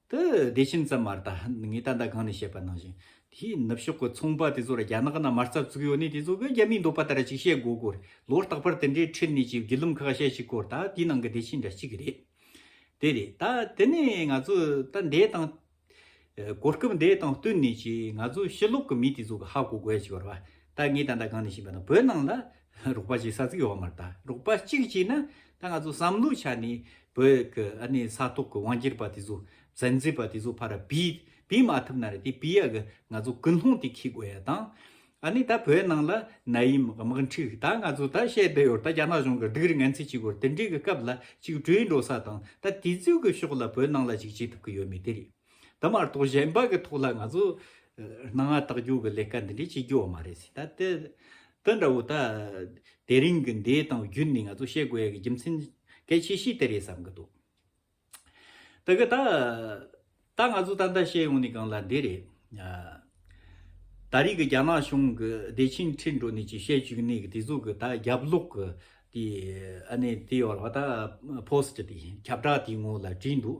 དུ་བདེ་ཆེན་ཙམ་མ་རྟ་ངས་ད་ལྟ་གང་ནས་བཤད་པ་ནང་བཞིན་དེའི་ནུབ་ཕྱོགས་ཀྱི་ཚོང་པ་དེ་ཚོ་ལ་རྒྱ་ནག་ན་མ་རྩ་བཙུགས་ཡོད་ནི་དེ་ཚོ་གི་རྒྱ་མིའི་འདོད་པ་ལྟར་ཅིག་བཤད་དགོས་དགོས་རེད་ལོ་རྟག་པར་དེ་འདྲའི་ཁྲིད་ནས་ཅིག་བརྒྱུད་ལམ་ཁག་བཤད་བྱེད་དགོས་རེད་ད་དེའི་ནང་གི་བདེ་ཆེན་འདྲ་གཅིག་རེད་དེ་རེད་ད་དེ་ནས་ང་ཚོས་ད་འདས་དང། གོ་སྐབས་འདས་དང་བསྟུན་ནས་ཅིག་ང་ཚོས་ཕྱི་ལོག་གི་མི་དེ་ཚོ་གི་ཧ་གོ་དགོས་བྱས་པར་བ་ད་ངས་ད་ལྟ་གང་ནས་བཤད་པ་ན་བོད་ནང་ལ་རོགས་པ་ཅིག་ས་ཚིགས་ཡོག་མར་ད་རོགས་པ་གཅིག་ཅིག་ན་ད་ང་ཚོ་བསམ་བློ་ཆགས་ནས་བོད་ཀྱི་ཨ་ནི་ས་ཐོག་གི་དབང་སྒྱུར་པ་དེ་ཚོ་བཙན་འཛུལ་པ་དེ་ཚོ་ཕར་ར་བི་བི་མ་ཐུབ་ན་རེད་དེ་བི་ཡ་གི་ང་ཚོ་ཀུན་སློང་དེ་ཁེགས་དགོས་ཡ་དང་ཨ་ནི་ད་བོད་ནང་ལ་ན་ཡིམ་དམག་འཁྲུག་ད་ང་ཚོ་ད་བཤད་བསྡད་ཡོད་ད་རྒྱ་ནག་གཞུང་གི་སྡུག་རི་ངན་ཚིག་གཅིག་གོ་དེ་འདྲའི་གི་སྐབས་ལ་གཅིག་བྲོས་འགྲོ་ས་དང་ད་དེ་ཚོའི་གི་ཕྱོགས་ལ་བོད་ནང་ལ་ཅིག་བྱེད་ཐུབ་གི་ཡོད་མེད་དེ་རེད། ད་མ་གཏོགས་གཞན་པ་གི་ཐོག་ལ་ང་ཚོ་སྣང་བ་རྟགས་འགྱུར་གི་ལས་ཀ་འདི་འདྲའི་བྱེད་རྒྱུ་བ་མ་རེད་སྲིད་ད། དེ་འདྲ་བོ་ད་དེ་རིང་གི་འདའི་སྟངས་བརྒྱུད་ནས་ང་ཚོ་བཤད་དགོས་ཡ་གི་རྒྱུ་མཚན་གལ་ཆེ་ཤོས་དེ་རེད་བསམ་གི་འདུག་ད་གི་ད། ད་ང་ཚོ་ད་ལྟ་བཤད་ཡོང་ནི་གང་ལ་འདི་རེད། ད་རིག་གི་རྒྱ་ནག་གཞུང་གི་བདེ་ཆེན་ཁྲི་འགྲོ་ནས་ཀྱི་བཤད་བཅུག་གནས་གི་དེ་ཟུག་གི་ད་རྒྱབ་ལོག་གི་དེ་ཨ་ནེ་དེ་ཡོ་ལ་བ་ད post དེ་ཁྱབ་བསྒྲགས་དེ་ངོ་ལ་བྲིས་འདུག་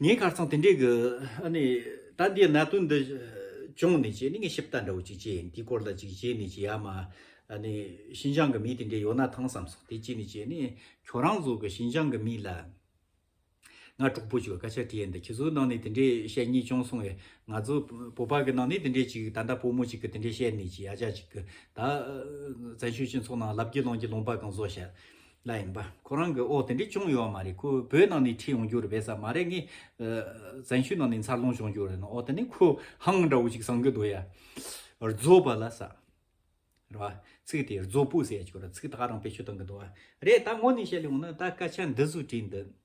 ངའི་ཁར་ཚང་དེ་འདྲའི་གི་ཨ་ནི། ད་འདིའི་གནད་དོན་འདི་བྱུང་ནས་ཀྱི་ནི་ངས་ཞིབ་ལྟ་འདྲ་བོ་ཅིག་བྱས་ཡིན་དེའི་སྐོར་ལ་ཅིག་བྱས་ནས་ཀྱི་ཡ་མ་ཨ་ནི། ཤིན་ཅང་གི་མི་དེ་འདྲའི་ཡོད་ན་ཐང་བསམ་སོང་དེ་ཅིག་ནི་ཀྱི་ནི། ཁྱོད་རང་ཚོ་གི་ཤིན་ཅང་གི་མི་ལ། ང་གྲོགས་པོ་ཅིག་ལ་སྐད་ཆ་དྲིས་ཡིན་དེ་ཁྱེད་ཚོའི་ནང་ནས་དེ་འདྲའི་བཤད་ཉེས་བྱུང་སོང་བས་ང་ཚོ་བོད་པ་གི་ནང་ནས་དེ་འདྲའི་ཅིག་ད་ལྟ་བོད་མོ་ཅིག་གི་དེ་འདྲའི་བཤད་ནས་ཀྱི་ཡ་ཅག་ཅིག་གི་ད། བཙན་བྱོལ་སྤྱི་ཚོགས་ནང་ལབ་ཀྱི་ལོང་ཀྱི་ལོང་པ་གང་བཟོ་བྱ། ལ་ཡིན་པ་ཁོ་རང་གི་འོ་དེ་འདྲས་ཅུང་ཡོད་མ་རེད་ཁོ་བོད་ནང་ནས་ཁྲིད་ཡོང་རྒྱུ་རེད་བས་ས་མ་རེད་ངས་བཙན་ཤུལ་ནང་ནས་འཚར་ལོངས་བྱུང་རྒྱུ་རེད་ནའོ་དེ་ནས་ཁོས་ཧང་འདྲ་བོ་ཞིག་བསང་གི་འདུག་ཡ་རྫོ་བ་ལ་ས་རེད་བ་ཚིག་དེ་རྫོ་སྤུ་ཟེར་ཡ་ཆུ་ར་ཚིག་ད་རང་བེད་སྤྱོད་གཏང་གི་འདུག་བ་རེད་ད་ངོ་ནས་བཤད་ལེ་ཡོང་ན་ད་སྐད་ཆ་འདི་ཟུ་བྲིས་འདུག།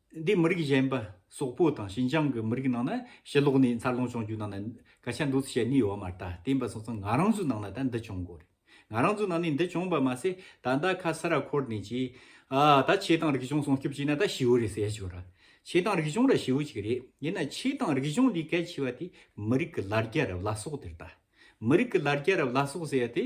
འདིས་མི་རིགས་གཞན་པ་སོག་པོ་དང་ཤིན་ཅང་གི་མི་རིགས་ནང་ན་ཕྱི་ལོགས་ནས་འཚར་ལོངས་བྱུང་རྒྱུ་ནང་ན་སྐད་ཆ་འདུག་བཤད་ནི་ཡོད་མ་རྟ་བསྟན་པ་སོང་ཙང་ང་རང་ཚོའི་ནང་ན་ད་འདི་བྱུང་གོ་རེད་ང་རང་ཚོའི་ནང་ནས་འདི་བྱུང་བ་མ་ཟད་ད་ལྟ་ཁ་ས་ར་འཁོར་ནས་ཀྱི་ཨ་ད་ཁྱེད་དང་རིག་གཞུང་སྲུང་སྐྱོབ་བྱས་ན་ད་ཞེའུ་རེད་ཟེར་ཞོར་ར་ཁྱེད་དང་རིག་གཞུང་ར་ཞེའུ་ཅིག་རེད་ཡིན་ན་ཁྱེད་དང་རིག་གཞུང་ལས་གལ་ཆེ་བ་དེ་མི་རིགས་ཀྱི་ལར་རྒྱ་རབས་ལ་སོག་དེར་ད་མི་རིགས་ཀྱི་ལར་རྒྱ་རབས་ལ་སོག་ཟེར་ཡ་དེ།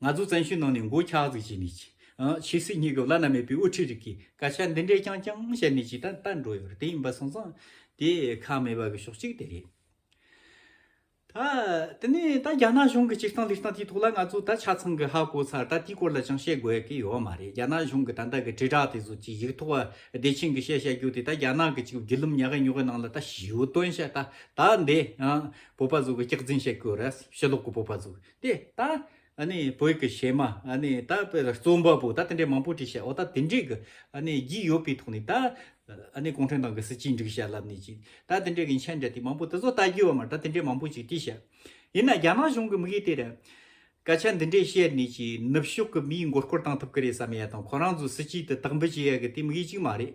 ང་ཚོ་བཙན་བྱོལ་ནང་ནས་མགོ་འཁྱག་ཟིག་བྱས་ནས་ཕྱི་སྲིད་གཉིས་ཀྱི་བླ་ན་མེད་པའི་དབུ་ཁྲིད་རིགས་ཀྱིས་སྐད་ཆ་འདི་འདྲའི་རྐྱང་རྐྱང་བཤད་ནས་ཇི་ལྟར་བལྟ་འགྲོ་ཡོད་རེད་དེ་ཡིན་པ་སོང་ཙང་དེ་ཁག་མེད་པ་གི་ཕྱོགས་གཅིག་དེ་རེད། ད་དེ་ནས་ད་རྒྱ་ནག་གཞུང་གི་སྤྱིར་བཏང་ལས་སྟངས་དེའི་ཐོག་ལ་ང་ཚོ་ད་ཆ་ཚང་གི་ཧ་གོ་ཚར་ད་དེའི་སྐོར་ལ་ཅང་བཤད་དགོས་ཀི་ཡོད་མ་རེད་རྒྱ་ནག་གཞུང་གི་ད་ལྟ་གི་དྲིལ་བསྒྲགས་དེ་ཚོ་གྱིས་ཡིག་ཐོག་བདེ་ཆེན་གི་བཤད་བཤད་རྒྱུ་དེ་ད་རྒྱ་ནག་གི་གཅིག་བརྒྱུད་ལམ་ཉག་གི་ཉོག་གི་ནང་ལ་ད་ཞུ་དོན་བཤད་ད་ད་འདི་བོད་པ་ཚོ་གི་སྐྱག་རྫིན་བཤད་ཀི་ཡོད་རེད་ཕྱི་ལོག་གི་བོད་པ་ཚོ་གི། དེ་ད་ནི་བོད་ཀྱི་གཞས་མ་ནི་ད་པེ་རྩོམ་པ་པོ་ད་དེ་འདྲའི་མང་པོ་བྲིས་བྱས་འོ་ད་དེ་འདྲའི་གི་ནི་རྒྱུས་ཡོད་པའི་ཐོག་ནས་ད་ནི་གུང་ཁྲན་ཏང་གི་སྲིད་སྤྱིའི་འགྲིག་བྱ་ལབ་ནི་ཅི་ད་དེ་འདྲའི་གི་མཆན་འདྲ་དེ་མང་པོ་དེ་ཚོ་ལྟ་རྒྱུ་བ་མ་ད་དེ་འདྲའི་མང་པོ་ཅིག་བྲིས་བྱས་ཡིན་ན་རྒྱ་ནག་གཞུང་གི་མི་གིས་དེ་རེད་སྐད་ཆ་འདི་འདྲའི་བཤད་ནི་ཅི་ནུབ་ཕྱོགས་གི་མིའི་མགོ་སྐོར་བཏང་ཐུབ་གི་རེད་བསམ་ཡ་དང་ཁོ་རང་ཚོའི་སྲིད་སྤྱི་དེ་དག་འབུད་བྱེད་ཡ་གི་དེ་མི་གིས་ཅིག་མ་རེད་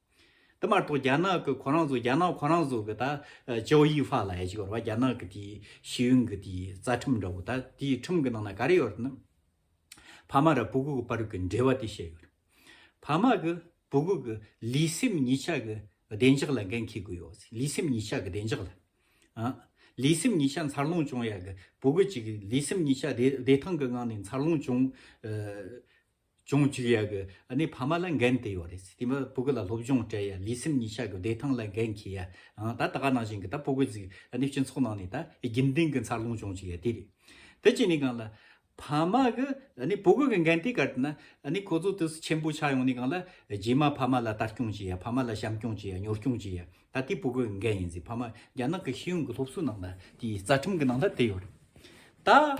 དེ་མ་གཏོགས་རྒྱ་ནག་གི་ཁོ་རང་ཚོ་རྒྱ་ནག་ཁོ་རང་ཚོ་གི་ད་ཅའོ་ཡིས་ཧྥ་ལ་ཡ་ཅིག་ཡོར་བ་རྒྱ་ནག་གི་དེའི་ཤེས་ཡོན་གི་དེའི་རྩ་ཁྲིམས་འདྲ་བོ་ད་དེའི་ཁྲིམས་གི་ནང་ན་ག་རེ་ཡོར་ནི། ཕ་མ་ར་བུ་གུ་གི་བར་གི་འབྲེལ་བ་དེ་བཤད་ཡོར། ཕ་མ་གི་བུ་གུ་གི་ལུས་སེམས་གཉིས་ཆ་གི་བདེ་འཇགས་ལ་འགན་འཁེལ་དགོས་ཡོར་ཟིག་ལུས་སེམས་གཉིས་ཆ་གི་བདེ་འཇགས་ལ། ཨ། ལུས་སེམས་གཉིས་ཆ་འཚར་ལོངས་བྱུང་ཡ་གི་བུ་གུ་གཅིག་གི་ལུས་སེམས་གཉིས་ཆ་བདེ་བདེ་ཐང་གི་ངང་ནས་འཚར་ལོངས་བྱུང། ཅུང་གཅིག་ཡག་གི་ནི་ཕ་མ་ལ་འགན་དེ་ཡོད་རེད་དེ་མ་བུ་གུ་ལ་སློབ་སྦྱོང་སྤྲད་ཡ་ལུས་སེམས་གཉིས་ཆ་གི་བདེ་ཐང་ལ་འགན་འཁྱེར་ཡ་ཨང་ད་ད་ག་ནང་བཞིན་གི་ད་བུ་གུ་ཚིག་ནི་སྤྱི་ཚོགས་ནང་ནས་ད་རྒྱུན་ལྡན་གི་འཚར་ལོངས་བྱུང་བཅུག་ཡ་དེ་རེད་དེ་གཅིག་ནི་གང་ལ་ཕ་མ་གི་ནི་བུ་གུ་གི་འགན་དེ་གར་ན་ནི་ཁོ་ཚོ་དུས་སུ་ཆེན་པོ་ཆགས་ཡོང་ནི་གང་ལ་རྗེས་མ་ཕ་མ་ལ་ལྟ་སྐྱོང་བྱེད་ཡ་ཕ་མ་ལ་བྱམས་སྐྱོང་བྱེད་ཡ་ཉོ་སྐྱོང་བྱེད་ཡ་ད་དེ་བུ་གུ་གི་འགན་ཡིན་ཟེར་ཕ་མ་རྒྱ་ནག་གི་ཤེས་ཡོན་གི་སློབ་གསོའི་ནང་ལ་དེ་རྩ་ཁྲིམས་གི་ནང་ལ་དེ་ཡོད་རེད་ད།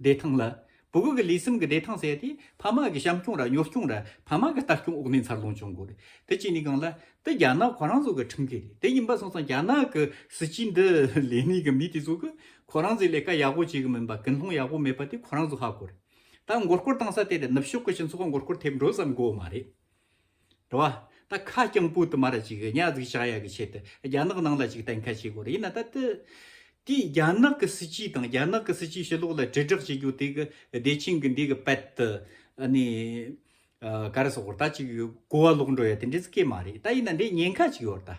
བདེ་ཐང་ལ། བུ་གུ་གི་ལུས་སེམས་ཀྱི་བདེ་ཐང་བསལ་ཏེ་ཕ་མ་གི་བྱམས་སྐྱོང་ར་གཉོར་སྐྱོང་ར་ཕ་མ་གི་ལྟ་སྐྱོང་འོག་ནས་འཚར་ལོངས་བྱུང་དགོས་རེད་དེ་གཅིག་ནས་གང་ལ་དེ་རྒྱ་ནག་གོ་རང་ཚོ་གི་ཁྲིམས་འགལ་རེད་དེ་ཡིན་པ་སོང་ཙང་རྒྱ་ནག་གི་སྲིད་སྤྱི་འདི་ལས་གནས་གི་མི་དེ་ཚོ་གི་ཁོ་རང་ཚོའི་ལས་ཀ་ཡག་པོ་བྱེད་གི་མིན་པ་ཀུན་སློང་ཡག་པོ་མེད་པ་དེ་ཁོ་རང་ཚོ་ཧ་གོ་རེད་ད་མགོ་སྐོར་བཏང་ས་དེ་རེད་ནུབ་ཕྱོགས་གི་སྤྱི་ཚོགས་མགོ་སྐོར་ཐེབས་འགྲོ་ཙམ་གོ་མ་རེད་དྲི་བ། ད་ཁ་རྐྱང་པོའི་དུ་མ་ར་ཅིག་གཉའ་གཟུགས་བྱ་ཡག་གི་ཆེད་དུ་རྒྱ་ནག་ནང་ལ་ཅིག་གཏན་འཁེལ་བྱེད་དགོས་རེད་ཡིན་ན་ད་དེ་དེས་རྒྱ་ནག་གི་སྲིད་སྤྱི་དང་རྒྱ་ནག་གི་སྲིད་སྤྱི་ཕྱི་ལོག་ལ་དྲིལ་བསྒྲགས་བྱེད་རྒྱུ་དེ་གི་བདེ་ཆེན་གི་འདི་གི་པད་དུ་ནི་ག་རེ་སོག་པོར་ད་ཅིག་གོ་བ་ལོག་འགྲོ་ཡ་དེ་འདྲས་སུ་སྐྱེ་མ་རེད་ད་ཡིན་ན་འདྲས་ཉེན་ཁ་ཅིག་ཡོད་རེད་ད།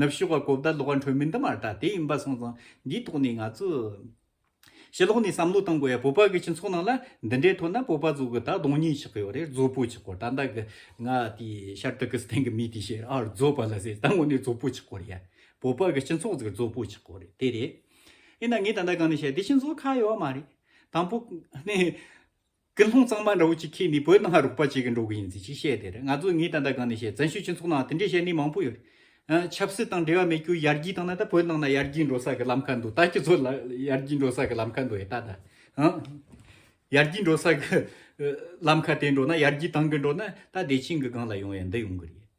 ནུབ་ཕྱོགས་ཀྱི་གོ་བརྡ་ལོགས་ཀ་འཕྲོད་མིན་དུ་མ་ལྟ་དེ་ཡིན་པ་སོང་ཙང་འདིའི་ཐོག་ནས་ང་ཚོས་ཕྱི་ལོགས་ནས་བསམ་བློ་གཏོང་དགོས་ཡ་བོད་པ་གི་སྤྱི་ཚོགས་ནང་ལ་འདི་འདྲའི་ཐོག་ན་བོད་པ་གཙོ་གི་ད་གདོང་གཉིས་ཆགས་ཀྱི་ཡོད་རེད་གཙོ་པོ་ཆགས་སྐོར་ད་ལྟ་གི་ང་དེ་ཤར་ཏུར་ཀི་སི་ཐན་གི་མི་དེ་ཤེས་ར་ཨ་རུ་གཙོ་བ་ལ་ཟེར་ད་ངོ་ནས་གཙོ་པོ་ཆགས་སྐོར་ཡ་བོད་པ་གི་སྤྱི་ཚོགས་ཟིག་གཙོ་པོ་ཆགས་སྐོར་རེད་དེ་རེད་ཡིན་ན་ངས་ད་ལྟ་གང་ནས་བཤད་དེ་སྤྱི་ཚོགས་ཁ་ཡོད་མ་རེད་དང་པོ་ནས། སྐུ་ལྷུང་གཙང་མ་འདྲ་བོ་ཅིག་ཁྱེད་ནི་བོད་ནང་ཧ་རུག་པ་ཅིག་གི་འགྲོ་གི་ཡིན་ཟེར་ཅིག་བཤད་དེ་རེད་ང་ཚོ་ངའི་ད་ལྟ་གང་ནས་བཤད་བཙན་བྱོལ་སྤྱི་ཚོགས་ནང་དེ་འདྲའི་བཤད་ནི་མང་པོ་ཡོད་རེད། ཆབ་སྲིད་དང་འབྲེལ་བ་མེད་རྒྱུ་ཡར་རྒྱས་བཏང་ན་ད་བོད་ནང་ན་ཡར་རྒྱས་འགྲོ་ས་གི་ལམ་ཁ་འདུག་ད་སྤྱི་ཚོགས་ཡར་རྒྱས་འགྲོ་ས་གི་ལམ་ཁ་འདུག་ཨེ་ད་ད། ཡར་རྒྱས་འགྲོ་ས་གི་ལམ་ཁ་དེ་འགྲོ་ན་ཡར་རྒྱས་བཏང་གི་འགྲོ་ན་ད་བདེ་ཆེན་གི་སྒང་ལ་ཡོང་ཡ་འདི་ཡོང་གི་རེད།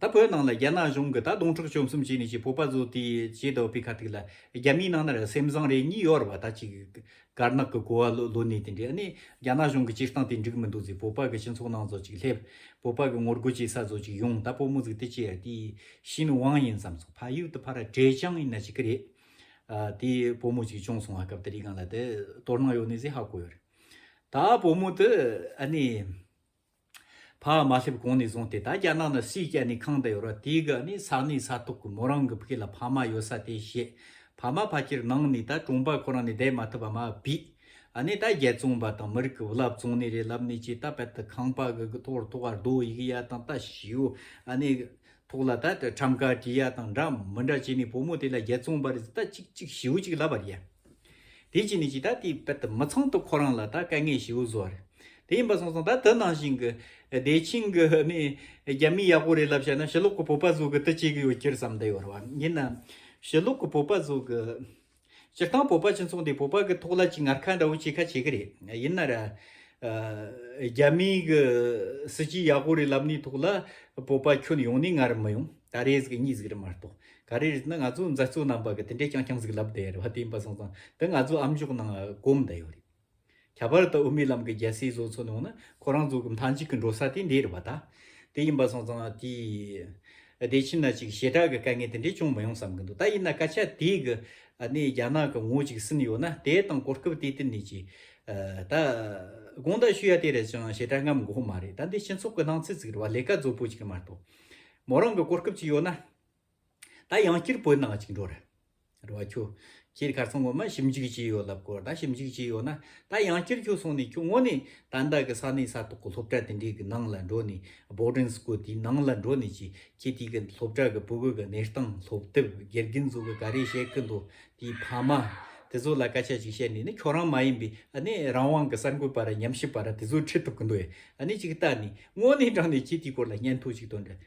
ད་བོད་ནང་ལ་རྒྱ་ནག་གཞུང་གི་ད་དུང་ཁྲག་བཅོམ་གསུམ་བྱས་ནས་ཀྱི་བོད་པ་བཟོ་དེ་བྱས་འདོག་པའི་ཁ་ཐིག་ལ་རྒྱ་མིའི་ནང་ནར་སེམས་བཟང་རེ་གཉིས་ཡོད་ར་བ་ད་ཅིག་དཀར་ནག་གི་གོ་བ་ལོ་ལོ་ནས་དེ་འདྲས་ནས་རྒྱ་ནག་གཞུང་གི་སྤྱིར་བཏང་དེ་འགྲིག་མི་འདུག་ཟེར་བོད་པ་གི་སྤྱི་ཚོགས་ནང་བཟོ་ཅིག་སླེབས་བོད་པ་གི་ངོ་རྒོལ་བྱེད་ས་བཟོ་ཅིག་ཡོང་ད་བོད་མོ་ཟིག་དེ་ཅེར་དེ་ཤི་ནི་དབང་ཡིན་བསམ་སོང་ཕ་ཡུལ་དུ་ཕ་ར་བྲེ་ཆང་ཡིན་ན་ཅིག་གི་རེད་དེ་བོད་མོ་ཅིག་བྱུང་སོང་ང་སྐབས་དེ་རིག་གང་ལ་དེ་དོར་སྣང་ཡོད་ནས་ཟེར་ཧ་གོ་ཡོད་རེད་ད་བོད་མོ་དེ་ཨ་ནི། ཕ་མ་མ་སླེབས་གོང་ནས་བཟུང་སྟེ་ད་རྒྱ་ནག་ནང་སྲིད་སྐྱ་ནི་ཁང་དུ་ཡོད་ར་དེའི་ག་ནི་ས་གནས་ས་ཐོག་གི་མོ་རང་གི་བུ་ལ་ཕ་མ་ཡོད་ས་དེ་བཤད་ཕ་མ་ཕ་ཁྱེར་ནང་ནས་ད་གྲོང་པ་ཁོ་རང་ནས་བསྡད་མ་ཐུབ་པ་མ་བི་ཨ་ནི་ད་རྒྱ་བཙོང་པ་དང་མི་རིགས་ཀྱི་བུ་ལབ་བཙོང་ནས་རེད་ལབ་ནས་ཅི་ད་པད་དུ་ཁང་པ་གི་གི་ཐོག་རུ་ཐོག་ཨར་རྡོ་ཡི་གི་ཡ་དང་ད་ཞིའུ་ཨ་ནི་གི་ཐོག་ལ་ད་ཁྲམ་ཁ་གི་ཡ་དང་འདྲ་མི་འདྲ་བྱས་ནས་བུ་མོ་དེ་ལ་རྒྱ་བཙོང་པ་རེད་ད་ཅིག་ཅིག་ཞིའུ་ཅིག་ལབ་པ་རེད། དེའི་རྐྱེན་ནི་ཅིག་ད་དེའི་དཔལ་དུ་མི་ཚང་དུ་ཁོ་རང་ལ་ད་དཀའ་ངལ་ཞེ་བོ་བཟོ་བ་རེད། དེ་ཡིན་པ་སོང་སོང་ད་དུ་ནང་བཞིན་གྱི་བདེ་ཆེན་གྱི་ནི་རྒྱ་མི་ཡག་པོ་རེད་ལབ་བྱས་ན་ཞི་ལོག་གི་བོད་པ་ཟོ་གི་དུ་བྱེད་གི་ཡོད་ཁྱེར་བསམ་དུ་ཡོད་རེད་བ། ཡིན་ནམ། ཞི་ལོག་གི་བོད་པ་ཟོ་གི། སྤྱིར་བཏང་བོད་པ་སྤྱི་ཚོགས་འདི་བོད་པ་གི་ཐོག་ལ་ཅིག་ངར་ཁ་འདྲ་བོ་བྱེད་ཁ་བྱེད་གི་རེད། ཡིན་ན་ར། རྒྱ་མི་གི་སྲིད་སྤྱི་ཡག་པོ་རེད་ལབ་ནི་ཐོག་ལ་བོད་པ་ཁྱོད་ཡོང་ནི་ངར་མི་ཡོང། ད་རེས་གི་གཉིས་གཟིགས་རེད་མ་གཏོགས། ག་རེ་རེད་ན་ང་ཚོ་མཛའ་གཙོ་རྣམ་པ་གི་དེ་འདྲའི་རྐྱང་རྐྱང་ཟིག་ལབ་བསྡད་ཡོད་རེད་བ་དེ་ཡིན་པ་སོང་ཙང་དེ་ང་ཚོ་ཨམ་ཅོག་ནང་གོམས་བསྡད་ཡོད་རེད། ཁྱད་པར་དུ་དབུ་མའི་ལམ་གི་རྒྱལ་སྲས་བཟོ་ཚོ་ནང་ན་ཁོ་རང་ཚོ་གི་མཐའ་མཇུག་གི་འགྲོ་ས་དེ་འདི་རེད་བ་ད། དེ་ཡིན་པ་སོང་ཙང་དེ། བདེ་ཆེན་ན་ཅིག་ཞེ་དྲག་གི་དཀའ་ངལ་དེ་འདྲས་ཅུང་མི་ཡོང་བསམ་གི་འདུག་ད་ཡིན་ན་སྐད་ཆ་དེ་གི་ནས་རྒྱ་ནག་གི་ངོ་ཅིག་ཟིན་ཡོད་ན་དེ་དང་གོ་སྐབས་དེ་དེ་ནས་ཅིག། ད། དགོངས་དག་ཞུ་ཡ་དེ་རེད་ཅིང་ཞེ་དྲག་རྔམ་དགོས་མ་རེད་ད་འདི་སྤྱི་ཚོགས་གི་སྣང་ཚུལ་ཟིག་རེད་བ་ལས་ཀ་རྫོབ་པོ་ཅིག་མ་རྟོགས། མོ་རང་གི་གོ་སྐབས་ཅིག་ཡོད་ན། ད་ཡང་སྐྱིར་བོད་ནང་གཅིག་འགྲོ་རེད། རེ་བ་ཁྱོ། ཁྱེད་གར་སོང་ངོ་མ་ཞིབ་འཇུག་བྱས་ཡོད་ལབ་གོ་ད་ཞིབ་འཇུག་བྱས་ཡོད་ན་ད་ཡང་སྐྱིར་ཁྱོ་སོང་ནས་ཁྱོ་ངོ་ནས་ད་ད་གི་ས་གནས་ས་ཐོག་གི་སློབ་གྲྭ་དེ་འདྲའི་གི་ནང་ལ་འགྲོ་ནས Boarding School དེའི་ནང་ལ་འགྲོ་ནས་ཀྱི་ཁྱེད་དེའི་གི་སློབ་གྲྭ་གི་བུ་གུ་གི་གནས་སྟངས་སློབ་དེབ་དགེ་རྒན་ཚོ་གི་ག་རེ་བཤད་གི་འདུག་དེའི་ཕ་མ་དེ་ཚོ་ལ་སྐད་ཆ་ཅིག་བཤད་ནས་ནི་ཁྱོ་རང་མ་ཡིན་པའི་ནི་རང་དབང་གི་གསར་འགོད་པ་ར་ཉམས་ཞིབ་པ་ར་དེ་ཚོ་ཁྲིད་ཐུབ་གི་འདུག་ཨ་ནི་ཅིག་ལྟ་ནས་ངོ་ནས་དྲང་ནས་ཁྱེད་དེའི་སྐོར་ལ་སྙན་ཐོ་ཅིག་དོན་འགྲེལ།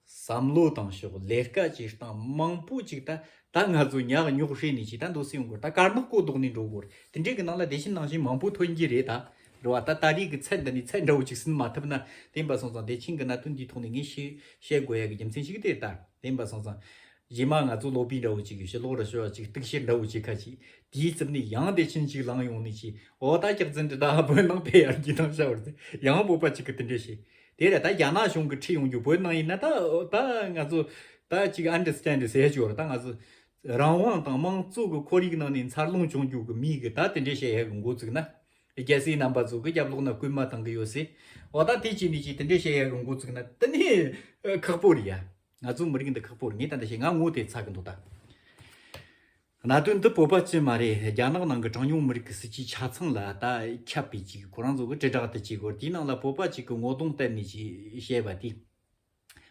བསམ་བློ་བཏང་ཤོག་ལས་ཀ་བྱེད་སྟངས་མང་པོ་ཅིག་ད་ད་ང་ཚོ་ཉག་ཉོག་ཧྲིལ་ནས་ཅིག་ད་འདུག་སྲིད་ཡོང་སྐོར་ད་དཀར་ནག་བསྐོ་ལྡོག་ནས་འགྲོ་སྐོར་དེ་འདྲའི་གི་ནང་ལ་དེ་བཞིན་ནང་བཞིན་མང་པོ་ཐོན་གྱི་རེད་ད་རེད་བ་ད་ད་རིས་གི་ཚད་འདི་ནས་ཚད་འདྲ་བོ་ཅིག་ཟིན་མ་ཐུབ་ན་དེ་འབའ་སང་ཙང་དེ་ཕྱིན་གི་ན་དོན་འདིའི་ཐོག་ནས་ངས་ཤེས་བཤད་དགོས་ཡ་གི་རྒྱུ་མཚན་ཞིག་དེ་ད་དེ་འབའ་སང་ཙང། རྗེས་མ་ང་ཚོ་ལོག་པི་འདྲ་བོ་ཅིག་གི་ཞེ་ལོག་ར་ཤོ་ཡ་ཅིག་གཏུག་བཤེར་འདྲ་བོ་ཅིག་ཁ་ཅིག་དེའི་རྩིབ་ནས་ཡང་དེ་ཕྱིན་ཅིག་ལངས་ཡོང་ནས་ཅིག་འོ་ད་སྐྱག་རྫུན་འདི་ད་བོད་ནང་བལ་ཡར་གྱི་ནང་བཤའ་བར་ཚེ་ཡང་བོད་པ་ཅིག་གི་དེ་འདྲའི་ཤེས་དེ་ལས་ད་རྒྱ་ནག་གཞུང་གི་ཁྲིད་ཡོང་རྒྱུ་བོད་ནང་ཡིན་ན་ད་ད་ང་ཚོ་ད་གཅིག understand བྱས་ཆོག་ད་ང་ཚོ་རང་དབང་དང་དམངས་གཙོ་གི་ཁོར་ཡིག་ནང་ནས་འཚར་ལོངས་བྱུང་རྒྱུ་གི་མིག་གི་ད་དེ་འདྲའི་བཤད་ཡ་གི་འགོ་བཙུགས་ན། རྒྱལ་སྲིད་རྣམ་པ་ཚོ་གི་རྒྱབ་ལོག་ན་རྐུན་མ་བཏང་གི་ཡོད་སྲིད། འོ་ད་དེ་གཅིག་འདི་གཅིག་དེ་འདྲའི་བཤད་ཡ་གི་འགོ་བཙུགས་ན་དེ་ནས་ཁག་པོ་རེད་ཡ། ང་ཚོ་མི་རིགས་འདི་ཁག་པོ་རེད་ངས་ད་འདི་བཤད་ང་ངོ་དེ་ཚ་གི་འདུག་ད། གནད་དོན་འདི་བོད་པ་བཅས་མ་རེད་རྒྱ་ནག་ནང་གི་གྲངས་ཉུང་མི་རིགས་ཀྱི་སྲིད་སྤྱིའི་ཆ་ཚང་ལ་ད་ཁྱབ་པའི་ཅིག་གོ་རང་ཚོ་གི་དྲིལ་བསྒྲགས་དེ་ཅིག་གོ་དེའི་ནང་ལ་བོད་པ་ཅིག་གི་ངོ་གདོང་བསྟན་ནས་ཅིག་བཤད་པ་དེ་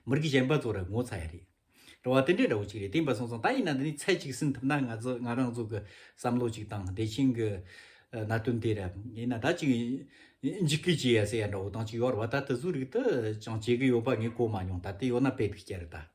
མི་རིགས་གཞན་པ་ཚོ་ར་ངོ་ཚ་ཡ་རེད་འགྲོ་བ་དེ་འདྲའི་འདྲ་བོ་ཅིག་རེད་དེ་འབའ་སོང་སོང་ད་ཡིན་ན་འདི་ནས་ཚད་ཅིག་ཟིན་ཐུབ་ན་ང་ཚོ་ང་རང་ཚོ་གི་བསམ་བློ་ཅིག་དང་བདེ་ཆེན་གི་གནད་དོན་དེ་ར་ཡིན་ན་ད་ཅིག་འཇིགས་སྐུལ་བྱེད་ཡ་ཟེར་ཡ་འདྲ་བོ་དང་ཅིག་ཡོ་ར་བ་ད་དེ་ཚོའི་རིགས་དེ་ཅང་བྱེད་གི་ཡོད་པ་ངས་གོ་མ་མྱོང་ད་དེ་ཡོ་ན་དཔེ་དེ་སྐྱ་རེད་ད།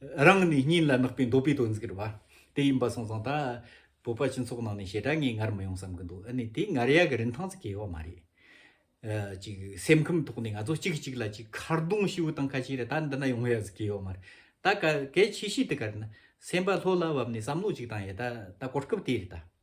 རང་ནི་སྙིང་ལ་བརྣག་པའི་འདོད་པའི་དོན་ཟེར་བ་དེ་ཡིན་པ་སོང་ཙང་ད་བོད་པ་སྤྱི་ཚོགས་ནང་ནས་བྱེད་སྒྲ་ངས་ངར་མི་ཡོང་བསམ་གི་འདུག་ཨ་ནི་དེ་ངར་ཡག་གི་རིན་ཐང་ཙི་གེ་ཡོད་མ་རེད། ཅིག་སེམས་ཁམས་ཐོག་ནས་ང་ཚོ་གཅིག་གི་གཅིག་ལ་ཅིག་ཁ་རྡུང་ཤི་བོ་དང་ཁ་ཆེ་རེད་ད་འདི་ན་ཡོང་ཡག་ཟི་གི་ཡོད་མ་རེད་ད་ག་གལ་ཆེ་ཤོས་དེ་ག་རེད་ན་སེམས་པ་ལྷོད་ལ་བབས་ནས་བསམ་བློ་ཅིག་བཏང་ཡས་ད་ད་གོ་སྐབས་དེ་རེད་ད།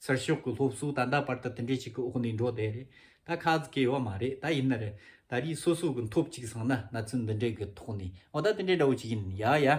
ཚུར་ཤོག་གི་སློབ་གསོ་ད་ལྟ་བར་དུ་དེ་འདྲའི་ཞིག་གི་འོག་ནས་འགྲོ་བསྡད་རེད་ད་ཁག་ཟིག་གི་ཡོད་མ་རེད་ད་ཡིན་ན་རེད་ད་རིས་སོ་སོ་གི་འཐོབ་ཅིག་སང་ན་ན་ཚུན་འདི་འདྲའི་གི་ཐོག་ནས་འོ་ད་དེ་འདྲའི་འདྲ་བོ་ཞིག་ཡིན་ཡ་ཡ།